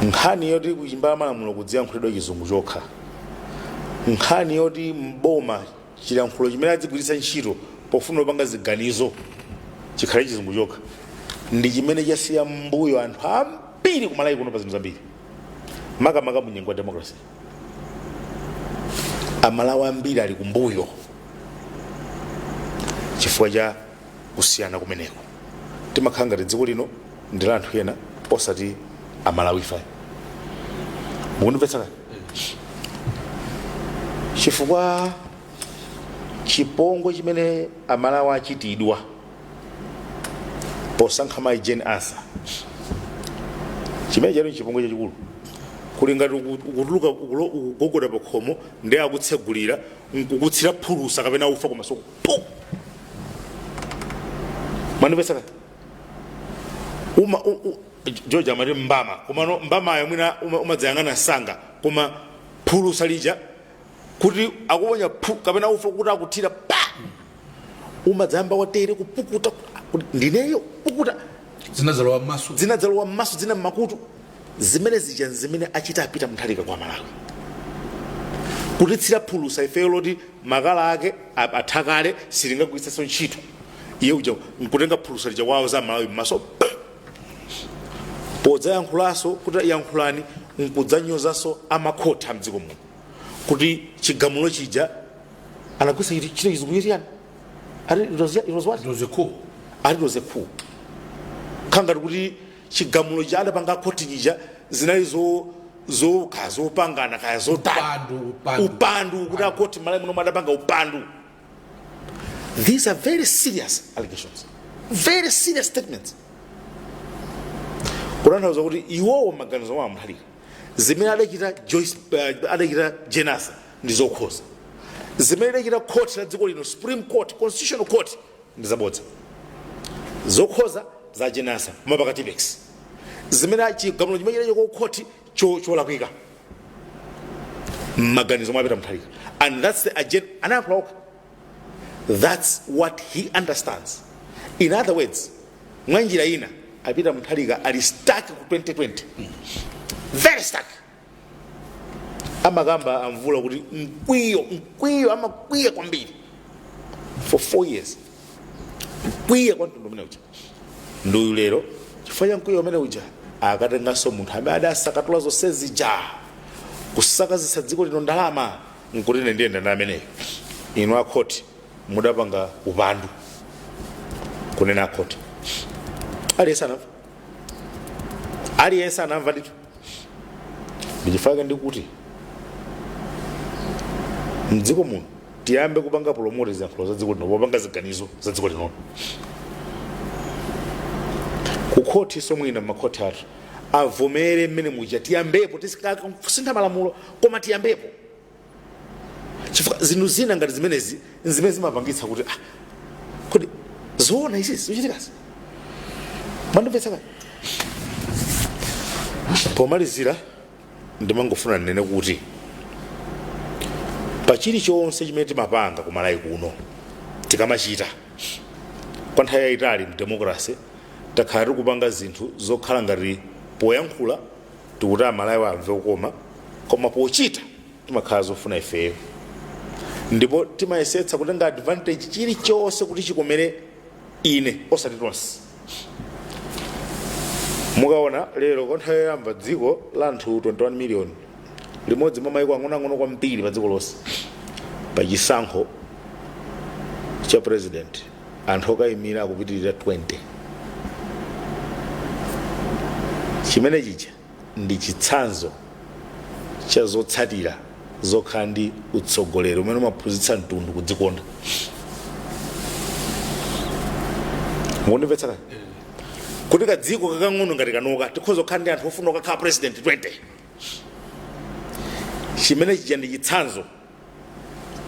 [SPEAKER 3] nkhani yoti ku nyumba ya malamulo kudziyankhulidwa chizungu chokha nkhani yoti mboma chilankhulo chimene adzigwiritsa ntchito pofuna kupanga ziganizo chikhale chizungu chokha ndi chimene chasiya mmbuyo anthu ambiri kumalawi kuno pa zinthu zambiri makamaka mu nyengo ya democracy amalawi ambiri ali kumbuyo chifukwa cha kusiyana kumeneko timakhala ngati dziko lino ndi la anthu ena osati amalawife mukundimvetsa kaya chifukwa chipongwe chimene amalawi achitidwa posankha mayi Jane Ansah chimene chali nchipongwe chachikulu kuli ngati uku- ukutuluka ukulo- ukugogoda pa khomo ndiye akutsegulira nkukutsira phulusa kapena ufa kumasoko Puh! mwandimvetsa uma u- u- george amati mbama komano mbamayo mwina uma- umadzayang'ana msanga koma phulusa lija kuti akuponya phu kapena ufa kuti akuthira pa umadzayamba watere kupukuta kuti ndineyo pukuta zinadzalowa
[SPEAKER 2] m'maso zinadzalowa m'maso zina m'makutu
[SPEAKER 3] zimene zija nzimene achita a Peter Mutharika kwa malawi kutitsira phulusa ifeyo loti makala ake a- atha kale silingagwirenso ntchito iye uja nkutenga phulusa lija kuwawaza amalawi mmaso podzayankhulanso kuti yankhulani nkudzanyozanso amakhoti a mdziko muno kuti chigamulo chija anagwiritsa chiti ntchito chizungu chitiyani ati it was- it was what? It was a coup. ati it was a coup kukhala ngati kuti chigamulo chija adapanga akhoti chija zinali zo zokha zopangana kaya zotani Upandu, upandu. upandu kuti akhoti malawi muno adapanga upandu these are very serious allegations very serious statements kutanthauza kuti iwowo maganizo mwa a Mutharika zimene adachita joyce uh, adachita Jane Ansah ndi zokhoza zimene idachita court ya dziko lino supreme court constitutional court ndizabodza zokhoza za jane ansah omapaka tipex zimene chigamulo chimene chinachoka ku khoti cho- cholakwika mmaganizo mwa peter mutharika and that's the agenda anayankhula okha that's what he understands in other words mwa njira ina a peter mutharika ali stuck ku 2020 very stuck amakamba a mvula kuti mkwiyo mkwiyo amakwiya kwambiri for four years mkwiya kwa mtundu umene uja nduyu lero chifukwa cha mkwiyo umene uja akatenganso munthu amene adasakatula zonse zija kusakazitsa dziko lino ndalama nkuti ine ndiyenda ndi ameneyo inu akhoti mudapanga upandu kunena akhoti aliyense anamva aliyense anamva ndithu ndichifukwa chake ndikuti mdziko muno tiyambe kupanga promote ziyankhulo za dziko lino popanga ziganizo za dziko lino kukhoti so mwina makhoti athu avomere mmene muja tiyambepo tizikasintha malamulo koma tiyambepo chifukwa zinthu zina ngati zimenezi nzimene zimapangitsa kuti ah, kodi zoona izi zochitikazi mwandimvetsa kani pomalizira ndimangofuna ndinene kuti pa chilichonse chimene timapanga ku malawi kuno tikamachita kwa nthawi yayitali mdemokrasi takhala tikupanga zinthu zokhala ngati poyankhula tikuti amalawi amve kukoma koma pochita timakhala zofuna ifeyo ndipo timayesetsa kutenga advantage chilichonse kuti chikomere ine osati tonse mukaona lero kwa nthawi yoyamba dziko la anthu 21 million limodzi mwa maiko ang'onoang'ono kwambiri pa dziko lonse pa chisankho cha president anthu okayimira akupitirira 20 chimene chija ndi chitsanzo cha zotsatira zokhala ndi utsogoleri umene umaphunzitsa mtundu kudzikonda mukundimvetsa kani kuti kadziko kakang'ono ngati kanoka tikhoza kukhala ndi anthu ofuna kukakhala president 20 chimene chija ndi chitsanzo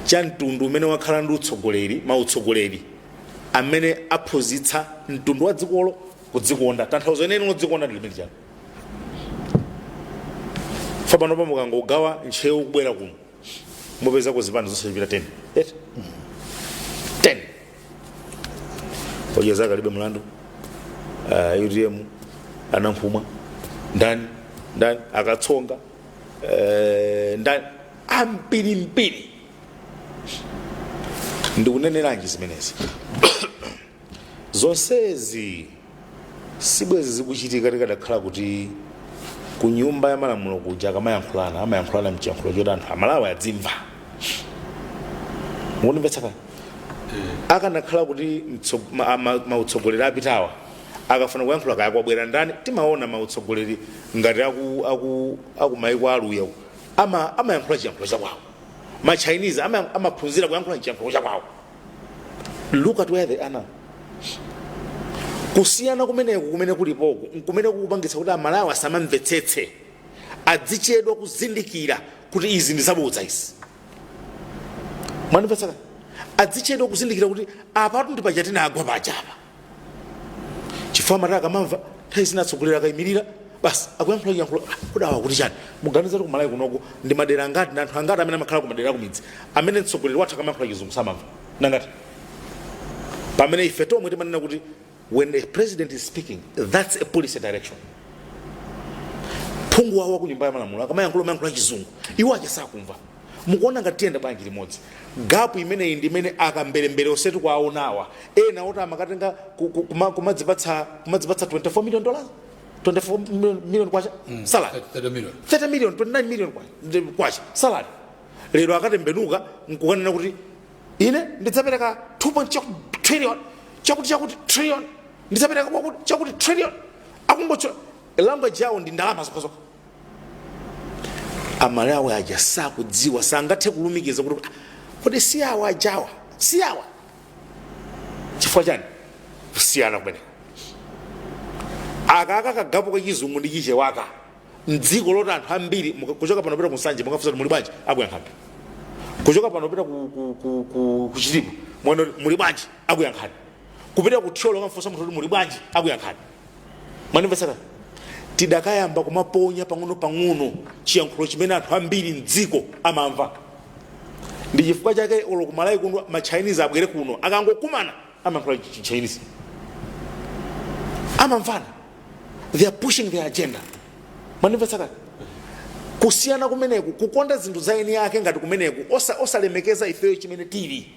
[SPEAKER 3] cha mtundu umene wakhala ndi utsogoleri mautsogoleri amene aphunzitsa mtundu wa dzikolo kudzikonda tanthauzo lenileni lodzikonda ndi limene chani fa panopa mukangogawa ntcheu kubwera kuno mupezako zipani zosachepera 10 eti 10 odya zake alibe mlandu uh, utm a nankhumwa ndani ndani a katsonga uh, ndani ambirimbiri ndikuneneranji zimenezi zonsezi sibwezi zikuchitika tikadakhala kuti ku nyumba ya malamulo kuja akamayankhulana amayankhulana mchiyankhulo choti anthu amalawi adzimva mukundimvetsa kani akanakhala kuti mtso- ma- ma- mautsogoleri apitawa akafuna kuyankhula kaya kwabwera ndani timaona mautsogoleri ngati aku, aku, aku maiko aluya ama amayankhula chiyankhulo cha kwawo ma chinese ama- amaphunzira kuyankhula chiyankhulo cha kwawo look at where they are now kusiyana kumeneku kumene kulipoku nkumene kukupangitsa kuti amalawi asamamvetsetse adzichedwa kuzindikira kuti izi ndi zabodza izi mwandimvetsa adzichedwa kuzindikira kuti apatu ndi paja tinagwa pajapa chifukwa amati akamamva nthawi zina atsogoleri akayimirira basi akuyankhula chiyankhulo "Ah, kodi awa akuti chani muganiza kuti kumalawi kunoko ndi madera angati ndi anthu angati amene amakhala kumadera akumidzi amene mtsogoleri wathu akamayankhula chizungu samamva ndi angati pamene ife tomwe timanena kuti when the president is speaking that's a policy direction phungu wawo wa ku nyumba ya malamulo akamayankhula amayankhula chizungu iwo aja sakumva mukuona ngati tiyenda bwanji limodzi gapu imeneyi ndi imene akamberembere onse tikuwaonawa ena oti amakatenga ku- ku- kuma- kumadzipatsa kumadzipatsa 24 million dollars 24 million- million kwacha salary 30 million 30 million 29 million kwa- ndi- kwacha salary lero akatembenuka nkukanena kuti ine ndidzapereka 2 chakuti trillion chakuti chakuti trillion ndidzapereka kwakuti chakuti trillion akungocho language yawo ndi ndalama zokhazokha amalawi aja sakudziwa sangathe kulumikiza kuti "Ah, kodi si awa ajawa si awa chifukwa chani kusiyana kumeneko akaka kagapo kachizungu ndi chichewaka mdziko loti anthu ambiri muka- kuchoka pano pita kunsanje mukafunsa kuti muli bwanji akuyankhani kuchoka pano pita ku- ku- ku- ku- kuchitipa mwene muli bwanji akuyankhani kupita ku thyolo kamfunsa munthu kuti muli bwanji akuyankhani mwandimvetsa tidakayamba kumaponya pang'ono pang'ono chiyankhulo chimene anthu ambiri mdziko amamva ndi chifukwa chake olo kumalawi kuno machinese abwere kuno akangokumana amayankhula chinese amamvana they are pushing their agenda mwandimvetsa kusiyana kumeneku kukonda zinthu za eni ake ngati kumeneku osa- osalemekeza ifeyo chimene tili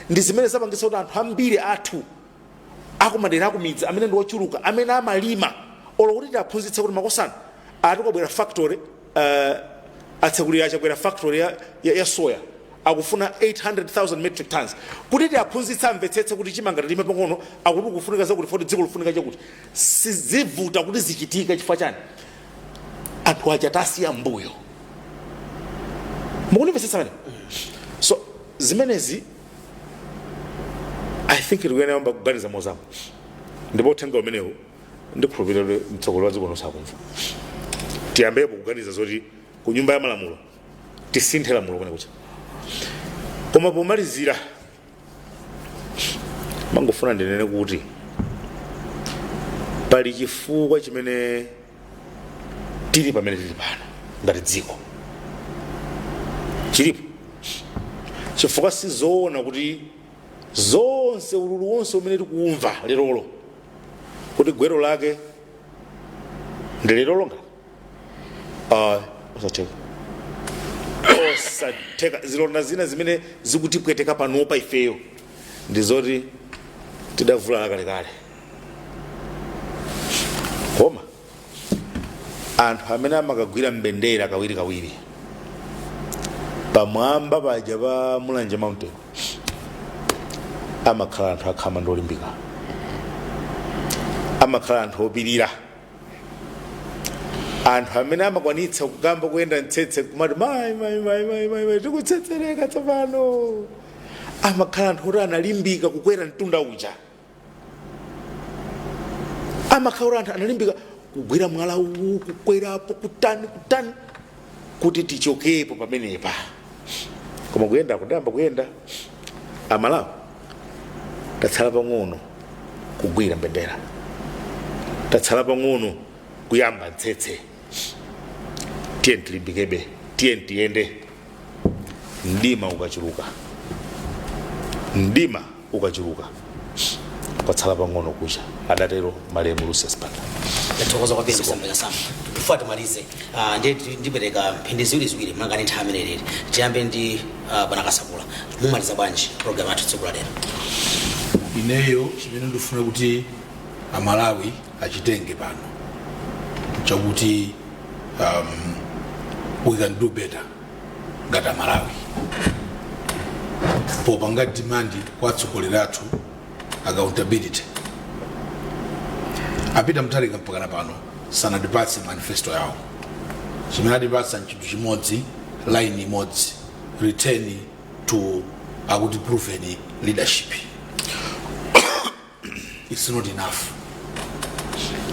[SPEAKER 3] ndi zimene zapangitsa kuti anthu ambiri athu akumadera akumidzi amene ndi ochuluka amene amalima olo kuti tiaphunzitse kuti makosana akuti kwabwera factory uh, atsegulira achakwera factory ya, ya, ya soya akufuna 800,000 metric tons kuti tiaphunzitse amvetsetse kuti chimanga tilime pang'ono akuti kufunika zakuti foti dziko likufunika chakuti zizivuta kuti zichitike chifukwa chani anthu aja tasiya mbuyo mukunimvetsetsa pamenepo so zimenezi i think tikuyenera kuyamba kuganiza mozama ndipo uthenga umenewu ndikhulupirira kuti mtsogoleri wa dziko lonse akumva tiyambepo kuganiza zoti ku nyumba ya malamulo tisinthe lamulo kwenikweni koma pomalizira mangofuna ndinene kuti pali chifukwa chimene tili pamene tili pano ngati dziko chilipo chifukwa sizoona kuti zonse ululu wonse umene tikuumva lerolo kuti gwero lake ndi lerolo ngati Ah, osatheka osatheka zilonda zina zimene zikutipweteka panopa ifeyo ndi zoti tidavulala kalekale koma anthu amene amakagwira mbendera kawirikawiri pamwamba paja pa mulanje mountain amakhala anthu akhama ndi olimbika amakhala anthu opirira anthu amene amakwanitsa kukamba kuyenda mtsetse kumati mai mai mai mai mai mai tikutsetsereka tsopano amakhala anthu oti analimbika kukwera mtunda uja amakhala oti anthu analimbika kugwira mwala uwu kukwerapo kutani kutani kuti tichokepo pamenepa koma kuyenda tidayamba kuyenda amalawi tatsala pang'ono kugwira mbendera tatsala pang'ono kuyamba ntsetse tiyeni tilimbikebe tiyeni tiyende mdima ukachuluka mdima ukachuluka kwatsala pang'ono kucha, adatero malemu Lucius Banda. tathokoza
[SPEAKER 1] kwambiri kusamvera samu before timalize ah, ndiye ndi- ndipereka mphindi ziwiriziwiri malinga ndi nthawi mmene ilili tiyambe ndi ah, bwana kasakula mumaliza bwanji program yathu tsiku la
[SPEAKER 2] lero ineyo chimene ndifuna kuti amalawi achitenge pano nchakuti um, we can do better ngati amalawi popanga demand kwa atsogoleri athu accountability a peter mutharika mpakana pano sanatipatse manifesto yawo chimene atipatsa nchinthu chimodzi line imodzi return to akuti proven leadership its not enough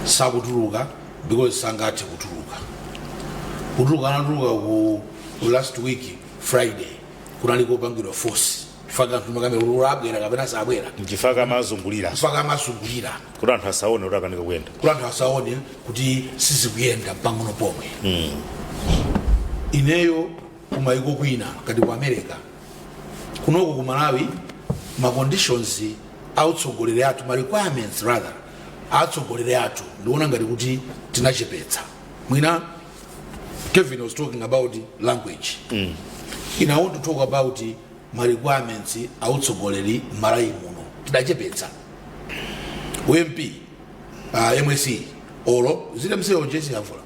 [SPEAKER 2] sakutuluka because sangathe kutuluka kutuluka anatuluka ku ku last week friday kunali kopangidwa force chifukwa anthu makamera kuti abwera kapena sabwera nchifukwa
[SPEAKER 3] amazungulira chifukwa
[SPEAKER 2] amazungulira kuti anthu asaone
[SPEAKER 3] kuti akanika kuyenda kuti anthu asaone
[SPEAKER 2] kuti sizikuyenda pang'ono pomwe ineyo kumaiko kwina ngati ku america kunoko ku malawi ma conditions autsogoleri athu ma requirements rather atsogoleri athu ndiona ngati kuti tinachepetsa mwina kevin was talking about language mm. i want to talk about ma requirements autsogoleri malawi muno tidachepetsa mp uh, msce olo ilibe msce yo jesi yavuta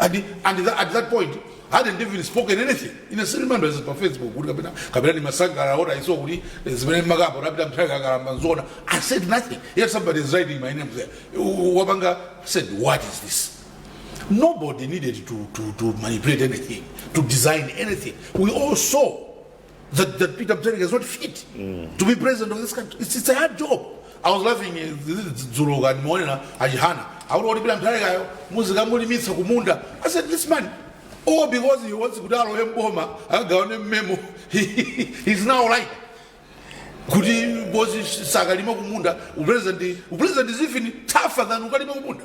[SPEAKER 2] And, and that, at that point, hadn't even spoken anything. In a certain members on Facebook, kuti kapena kapena ni masangala ora iso kuti zimene makamba rapita mthawi kakalamba nzona. I said nothing. Yet somebody is writing my name there. Wapanga said, what is this? Nobody needed to, to, to manipulate anything, to design anything. We all saw that, that Peter Mutharika is not fit mm. to be president of this country. It's, it's a hard job. I was laughing dzulo uh, kandimuonera achihana akuti kuti Peter Mutharikayo muzikamulimitsa kumunda. I said this man all because he wants kuti alowe mboma akagawane mmemo he's now right kuti bosi sakalima kumunda upresident upresident is even tougher than ukalima kumunda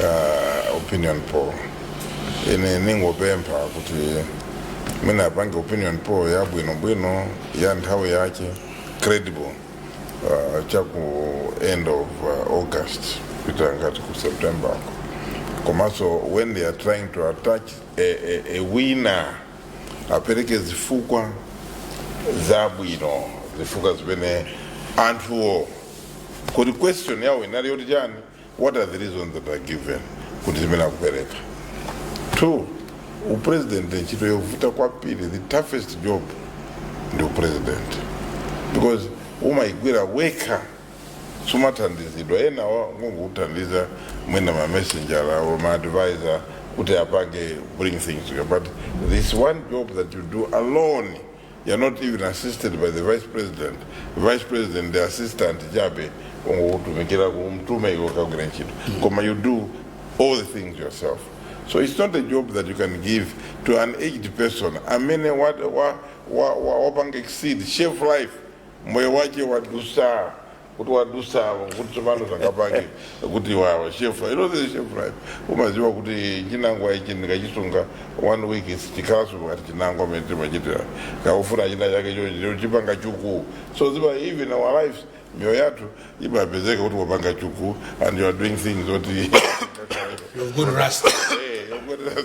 [SPEAKER 4] uh, opinion poll ine ningopempha kuti mwina apange opinion poll yabwinobwino ya nthawi yache credible uh, chaku end of uh, august kupita ngati ku september uko komanso when they are trying to attach a, a, a winner apereke zifukwa zabwino zifukwa zimene anthuwo kuti question yawo inali yoti chani what are the reasons that are given kuti zimene akupereka two upresident ntchito yovuta kwambiri the toughest job ndi upresident because umaigwira wekha sumathandizidwa enawa ngongokuthandiza mwina ma messenger or ma advisor kuti apange bring things together but this one job that you do alone You're not even assisted by the vice president. Vice president ndi assistant chabe ungokutumikira kumtuma iwe ukagwira ntchito. Koma you do all the things yourself. So it's not a job that you can give to an aged person amene wa- wa- wa- wa- wapanga exceed chef life moyo wake wadusa kuti wadusa apo kuti tsopano zangapake kuti wawa shelf life you know the shelf life umaziwa kuti chinangwa ichi ndikachisunga one week sichikhalanso ngati chinangwa amene timachitira kakufuna china chake chocho chipanga chuku so ziwa even our lives mioyo yathu imapezeka kuti wapanga chuku and you are doing things zoti
[SPEAKER 2] You've got rust. Eh, you're good at-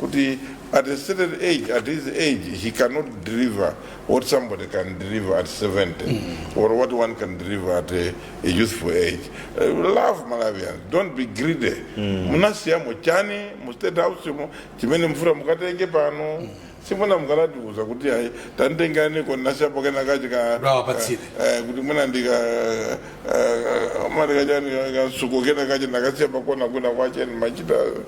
[SPEAKER 4] kuti at a certain age at his age he cannot deliver what somebody can deliver at 70 or what one can deliver at a, a youthful age uh, love malawians don't be greedy munasiyamo chani mu state house mo chimene mukufuna mukatenge pano simuna mukatatiuza kuti ayi tanditengani ndinasiyapo kena kachi ka Rawapatsire. eh, kuti mwina ndika mali kachani kasuku kena kachi ndinakasiya pakona kuna kwache machita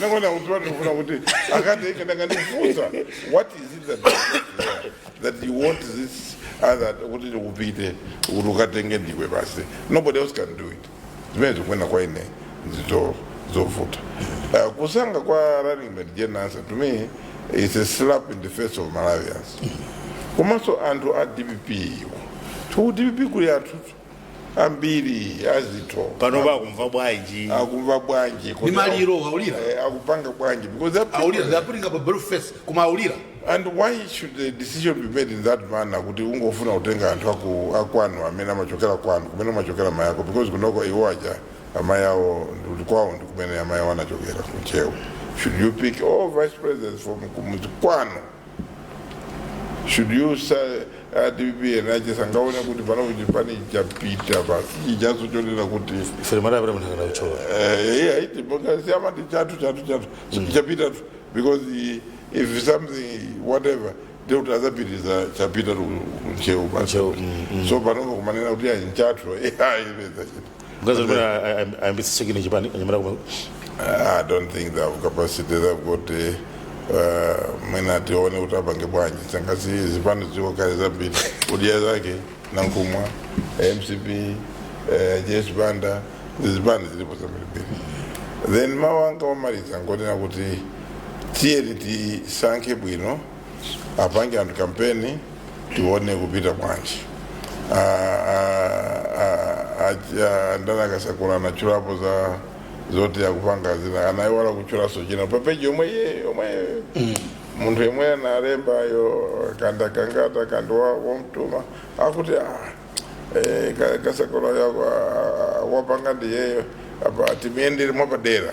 [SPEAKER 4] Naona utoto kuna kuti akati akanandifunza what is it that that you want this other kuti upite kuti ukatenge ndiwe basi nobody else can do it zimenezo kunena kwa ine nzinthu zovuta uh, kusankha kwa running mate Jane Ansah to me is a slap in the face of Malawians komanso anthu a DPP iwo ku DPP kuli anthu ambiri azitho panopa
[SPEAKER 3] akumva bwanji akumva bwanji
[SPEAKER 4] ndi Kodi maliro
[SPEAKER 2] aulira au- eh, akupanga bwanji
[SPEAKER 4] because that aulira they are putting up a
[SPEAKER 2] brave face koma aulira and why
[SPEAKER 4] should the decision be made in that manner kuti ungofuna kutenga anthu aku- akwanu amene amachokera kwanu kumene amachokera amayi ako because kunoko iwo aja amayi awo ndi kwawo ndi kumene amayi awo anachokera kuchewa should you pick all vice presidents from kumudzi kwanu should you say a DPP enaache sangaone kuti pano chipani chapita basi ichicho chonena kuti ifere mara abira mutanga
[SPEAKER 3] uchola eh, iti pokhapokha
[SPEAKER 4] amati chatu chatu chatu chapita tu because i- if something whatever ndekuti azapitiriza chapita ku Ntcheu basi Ntcheu, mm, so panopa kumanena kuti ayi nchatu ayi peza chita
[SPEAKER 3] Mkazi amene ayambitsa chekini chipani anyamata kumwe.
[SPEAKER 4] I don't think they have capacity they've got uh, uh, mwina tione kuti apange bwanji sangasi zipani ziko kale zambiri UDF ya zake Nankhumwa mcp uh, Joyce Banda zipani zilipo zambirimbiri then mawu anga omaliza ngonena kuti tiyeni tisankhe bwino apange anthu kampeni tione kuyipita bwanji ndani a Kasakula anatchulapo za zoti akupanga zina anaiwala kutchulanso china papeji yomwe iye yomwe munthu yemwe analembayo kanda kangata kandi wa- womtuma akuti ah, eh, ka- kasakula yako ah, wapanga ndiyeyo apa timuyendere mwapadera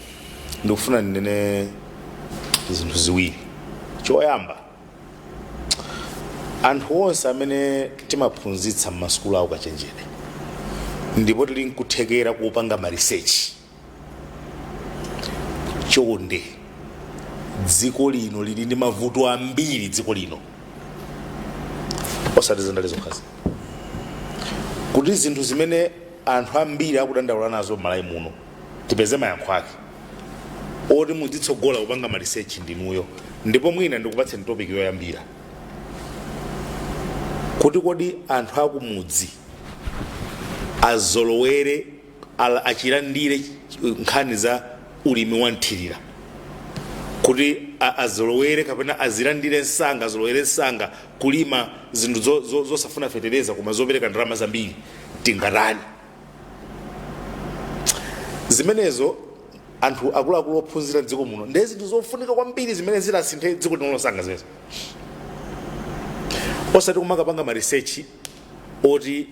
[SPEAKER 3] ndikufuna ndinene zinthu ziwiri choyamba anthu onse amene timaphunzitsa m'masukulu aukachenjede ndipo tili nkuthekera kupanga marisechi chonde dziko lino lili ndi mavuto ambiri dziko lino osati zandale zokhazi kuli zinthu zimene anthu ambiri akudandaula nazo m'malawi muno tipeze mayankho ake oti mudzitsogola kupanga malisechi ndinuyo ndipo mwina ndikupatseni topic yoyambira kuti kodi anthu akumudzi azolowere ala- achilandire nkhani za ulimi wa mthirira kuti a- azolowere kapena azilandire msanga azolowere msanga kulima zinthu zo- zo- zosafuna fetereza koma zopereka ndalama zambiri tingatani zimenezo anthu akuluakulu ophunzira m'dziko muno ndiye zinthu zofunika kwambiri zimene zingasinthe dziko lino lonse ngati zimenezo osati kumakapanga marisechi oti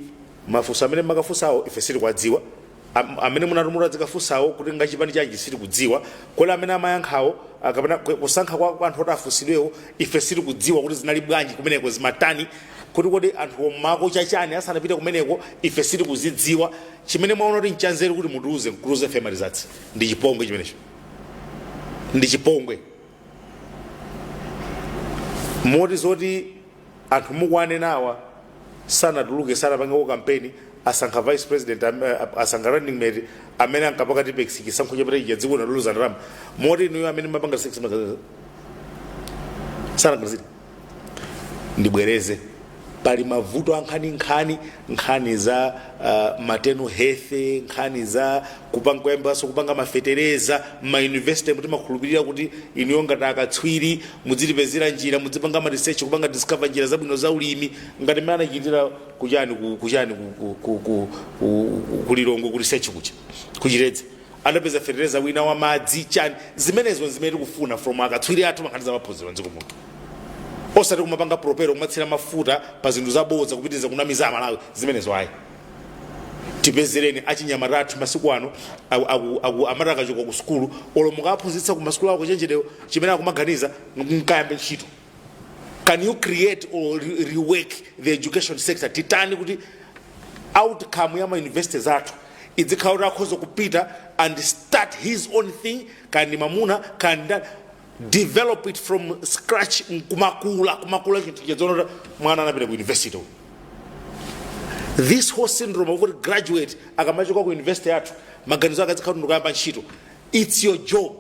[SPEAKER 3] mafunso amene mumakafunsawo ife sitikuwadziwa Am- amene munatuma adzikafunsawo kuti ngachipani chanji sitikudziwa kodi amene amayankhawo ah, kapena ku- kusankha kwa kwa anthu oti afunsidwewo ife sitikudziwa kuti zinali bwanji kumeneko zimatani kuti kodi anthuwo mumakocha chani asanapite kumeneko ife sitikuzidziwa chimene mwaona kuti nchanzeru kuti mutiuze mkuluze ife malizatsi ndi chipongwe chimenecho ndi chipongwe moti zoti anthu mukuwanenawa sanatuluke sanapangeko kampeni asankha vice president am- eh, asankha running mate amene ankapaka tipex chisankho chapita chija dziko linaluluza ndalama moti inuyo amene mapanga 6 sanagwirizira ndibwereze pali mavuto ankhaninkhani nkhani za uh, maternal health nkhani za kupanga kuyambanso kupanga mafetereza m'mayunivesite mmene timakhulupirira kuti inuyo ngati akatswiri mudzitipezera njira mudzipanga marisechi kupanga discover njira zabwino za ulimi ngati mmene anachitira kuchani ku- kuchani ku- ku- ku- ku- ku- ku lilongo ku research kucha kuChitedze anapeza fetereza wina wa madzi chani zimenezo zimene tikufuna from akatswiri athu pankhani za maphunziro mdziko muno osati kumapanga propel kumatsira mafuta pa zinthu zabodza kupitiriza kunamiza amalawi zimenezo ayi tipezereni achinyamata athu masiku ano aku- aku- aku- amati akachoka ku sukulu olo mukaphunzitsa ku masukulu awo ukachenjedewo chimene akumaganiza nkukayamba ntchito can you create or re- rework the education sector titani kuti outcome ya mauniversity zathu idzikhala kuti akhoza kupita and start his own thing kandi mamuna kandi develop it from scratch kumakula kumakula chinthu tidzaona kuti mwana anapita ku university uyu. this whole syndrome of kuti graduate akamachoka ku university yathu maganizo ake adzikhala kuti ndikayamba ntchito its your job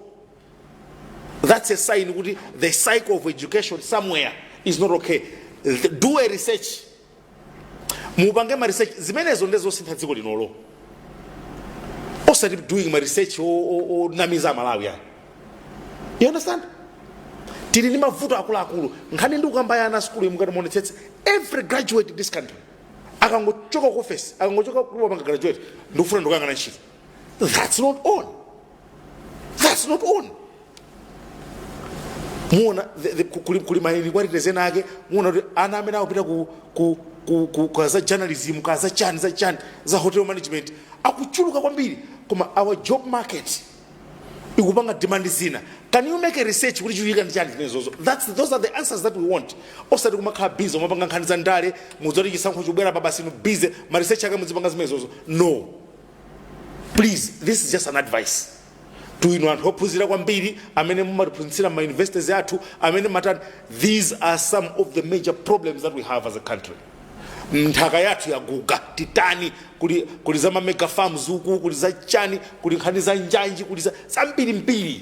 [SPEAKER 3] that's a sign kuti the cycle of education somewhere is not okay The- do a research mupange ma research zimenezo nde zosintha dziko linolo osati doing ma research o- o- onamiza amalawi ayi you understand tili ndi mavuto akuluakulu nkhani ndikukamba ya ana asukulu mukati muonetsetse every graduate in this country akangochoka ku office akangochoka akapanga graduate ndikufuna ndikukayang'ana ntchito that's not on that's not on muona the- the- ku- kuli kuli mining quality zena ake muona kuti ana amene akupita ku ku ku- ku- kwa za journalism kwa za chani za chani za hotel management akuchuluka kwambiri koma our job market ikupanga demand zina can you make a research kuti chikuchitika ndi chani zimenezozo that's those are the answers that we want osati kumakhala busy kumapanga nkhani za ndale mudziti chisankho chikubwerapa basi inu busy ma research ake mudzipanga zimenezozo no please this is just an advice to inu anthu ophunzira kwambiri amene mumatiphunzitsira ma universities athu amene matani these are some of the major problems that we have as a country nthaka yathu yaguga titani kuli, kuli za mamega farms uku kuli za chani kuli nkhani za njanji kuli za zambirimbiri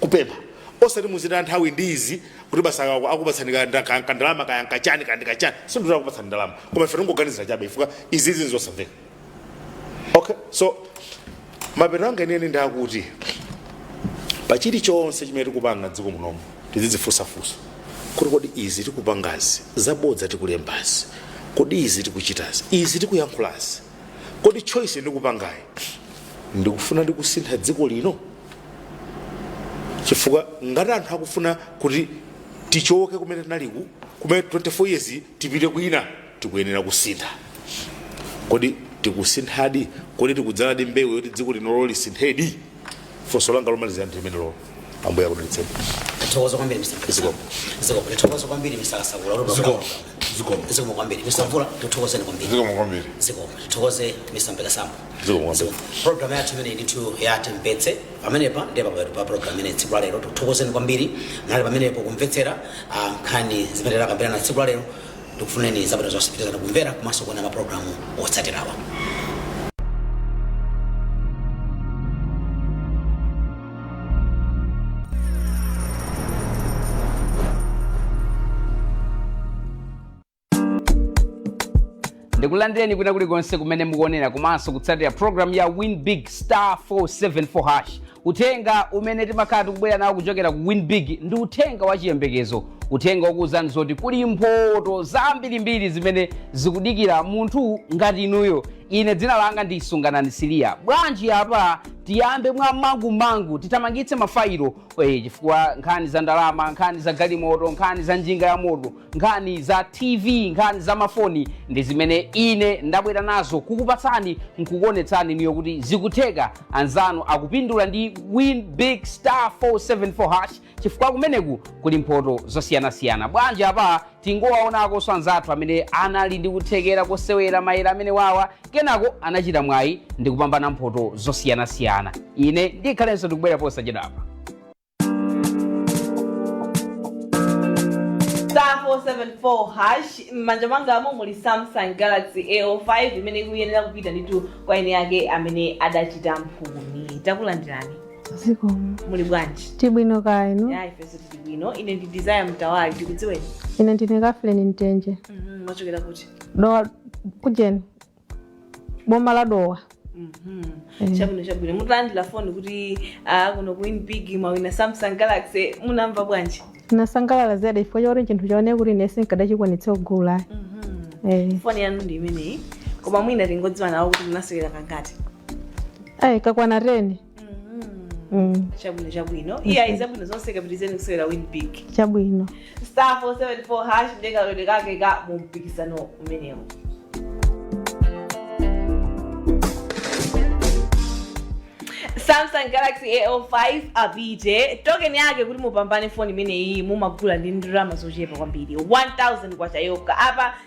[SPEAKER 3] kupempha osati muzitaya nthawi ndi izi kuti basi aka- akupatsani ka- nda- ka- kandalama kaya nkachani kandi kachani sindikuti akupatsani ndalama koma ife tingoganizira chabe chifukwa izi izi nzosamveka okay so mapeto anga inene ndi akuti pa chilichonse chimene tikupanga dziko munomu tizidzifunsafunsa kuti kodi izi tikupangazi zabodza tikulembazi kodi izi tikuchitazi izi tikuyankhulazi kodi choice ndikupangayi ndikufuna ndikusintha dziko lino chifukwa ngati anthu akufuna kuti tichoke kumene tinaliku kumene 24 years tipite kwina tikuyenera kusintha kodi tikusinthadi kodi tikudzaladi mbewu yoti dziko linoli lisinthedi funso langa lomalizira ndi limenelo Ambuye akudalitseni Tithokoza
[SPEAKER 1] kwambiri Mr. Mkasa. Zikomo. Zikomo. Tithokoza kwambiri Mr. Kasakula. Zikomo. Zikomo kwambiri. Mr. Mvula, tithokozeni kwambiri. zikomo kwambiri Zikomo. Tithokoze Mr. Mpekasamba. zikomo kwambiri program yathu imeneyi ndithu ya Timvetse pamenepa ndiye paphera pa program imeneyi tsiku la lero tithokoze kwambiri munali pamenepo kumvetsera ah, nkhani zimene takambirana tsiku la lero ndikufunireni zabwino zonse pitirizani kumvera komanso kuona maprogram otsatirawa
[SPEAKER 5] ndikulandireni kwina kulikonse kumene mukuonera komanso kutsatira programu ya win big star 474 hash uthenga umene timakhala tikubwera nawo kuchokera ku win big ndi uthenga wa chiyembekezo uthenga wokuwuzani zoti kuli mphoto zambirimbiri zimene zikudikira munthu ngati inuyo ine dzina langa ndi sunganani siliya bwanji apa tiyambe mwa mangumangu tithamangitse mafayilo eh, chifukwa nkhani za ndalama nkhani za galimoto nkhani za njinga ya moto nkhani za tv nkhani za mafoni ndi zimene ine ndabwera nazo kukupatsani nkukuonetsani inuyo kuti zikutheka anzanu akupindula ndi win big star 474 hash chifukwa kumeneku kuli mphoto zosiyanasiyana bwanji apa tingowaonakonso anzathu amene anali ndi kuthekera kosewera mayere amenewawa kenako anachita mwayi ndi kupambana mphoto zosiyanasiyana ine ndikhalenso ndikubwera posachedwapa
[SPEAKER 6] star 474 hash m'manja mwangamo muli samsung galaxy a05 imene ikuyenera kupita ndithu kwa eni ake amene adachita mphumi takulandirani
[SPEAKER 7] zikomo muli
[SPEAKER 6] bwanji tili bwino kaya inu
[SPEAKER 7] ya ifenso tili
[SPEAKER 6] bwino ine ndi desire mtawali tikudziweni ine ndine kafuleni
[SPEAKER 7] mtenje Mhm, mwachokera kuti
[SPEAKER 6] dowa
[SPEAKER 7] kujeni boma la
[SPEAKER 6] dowa chabwino chabwino mutalandira foni kuti ah, kuno ku win big mwawina samsung galaxy munamva bwanji ndinasangalala zedi
[SPEAKER 7] chifukwa chakuti chinthu chaone kuti ine sinkadachikwanitsa kugula
[SPEAKER 6] eh. foni yanu ndi imeneyi koma mwina tingodziwa nawo kuti munasewera kangati
[SPEAKER 7] kakwana teni Mm,
[SPEAKER 6] chabwino chabwino iyai zabwino zonse kapitirizeni kusewera win big
[SPEAKER 7] chabwino star 474
[SPEAKER 6] hash ndiye kalowedwe kake ka mu mpikisano umenewo samsung galaxy a05 apite token yake kuti mupambane foni imeneyi mumagula ndi ndalama zochepa kwambiri 1000 kwacha yokha apa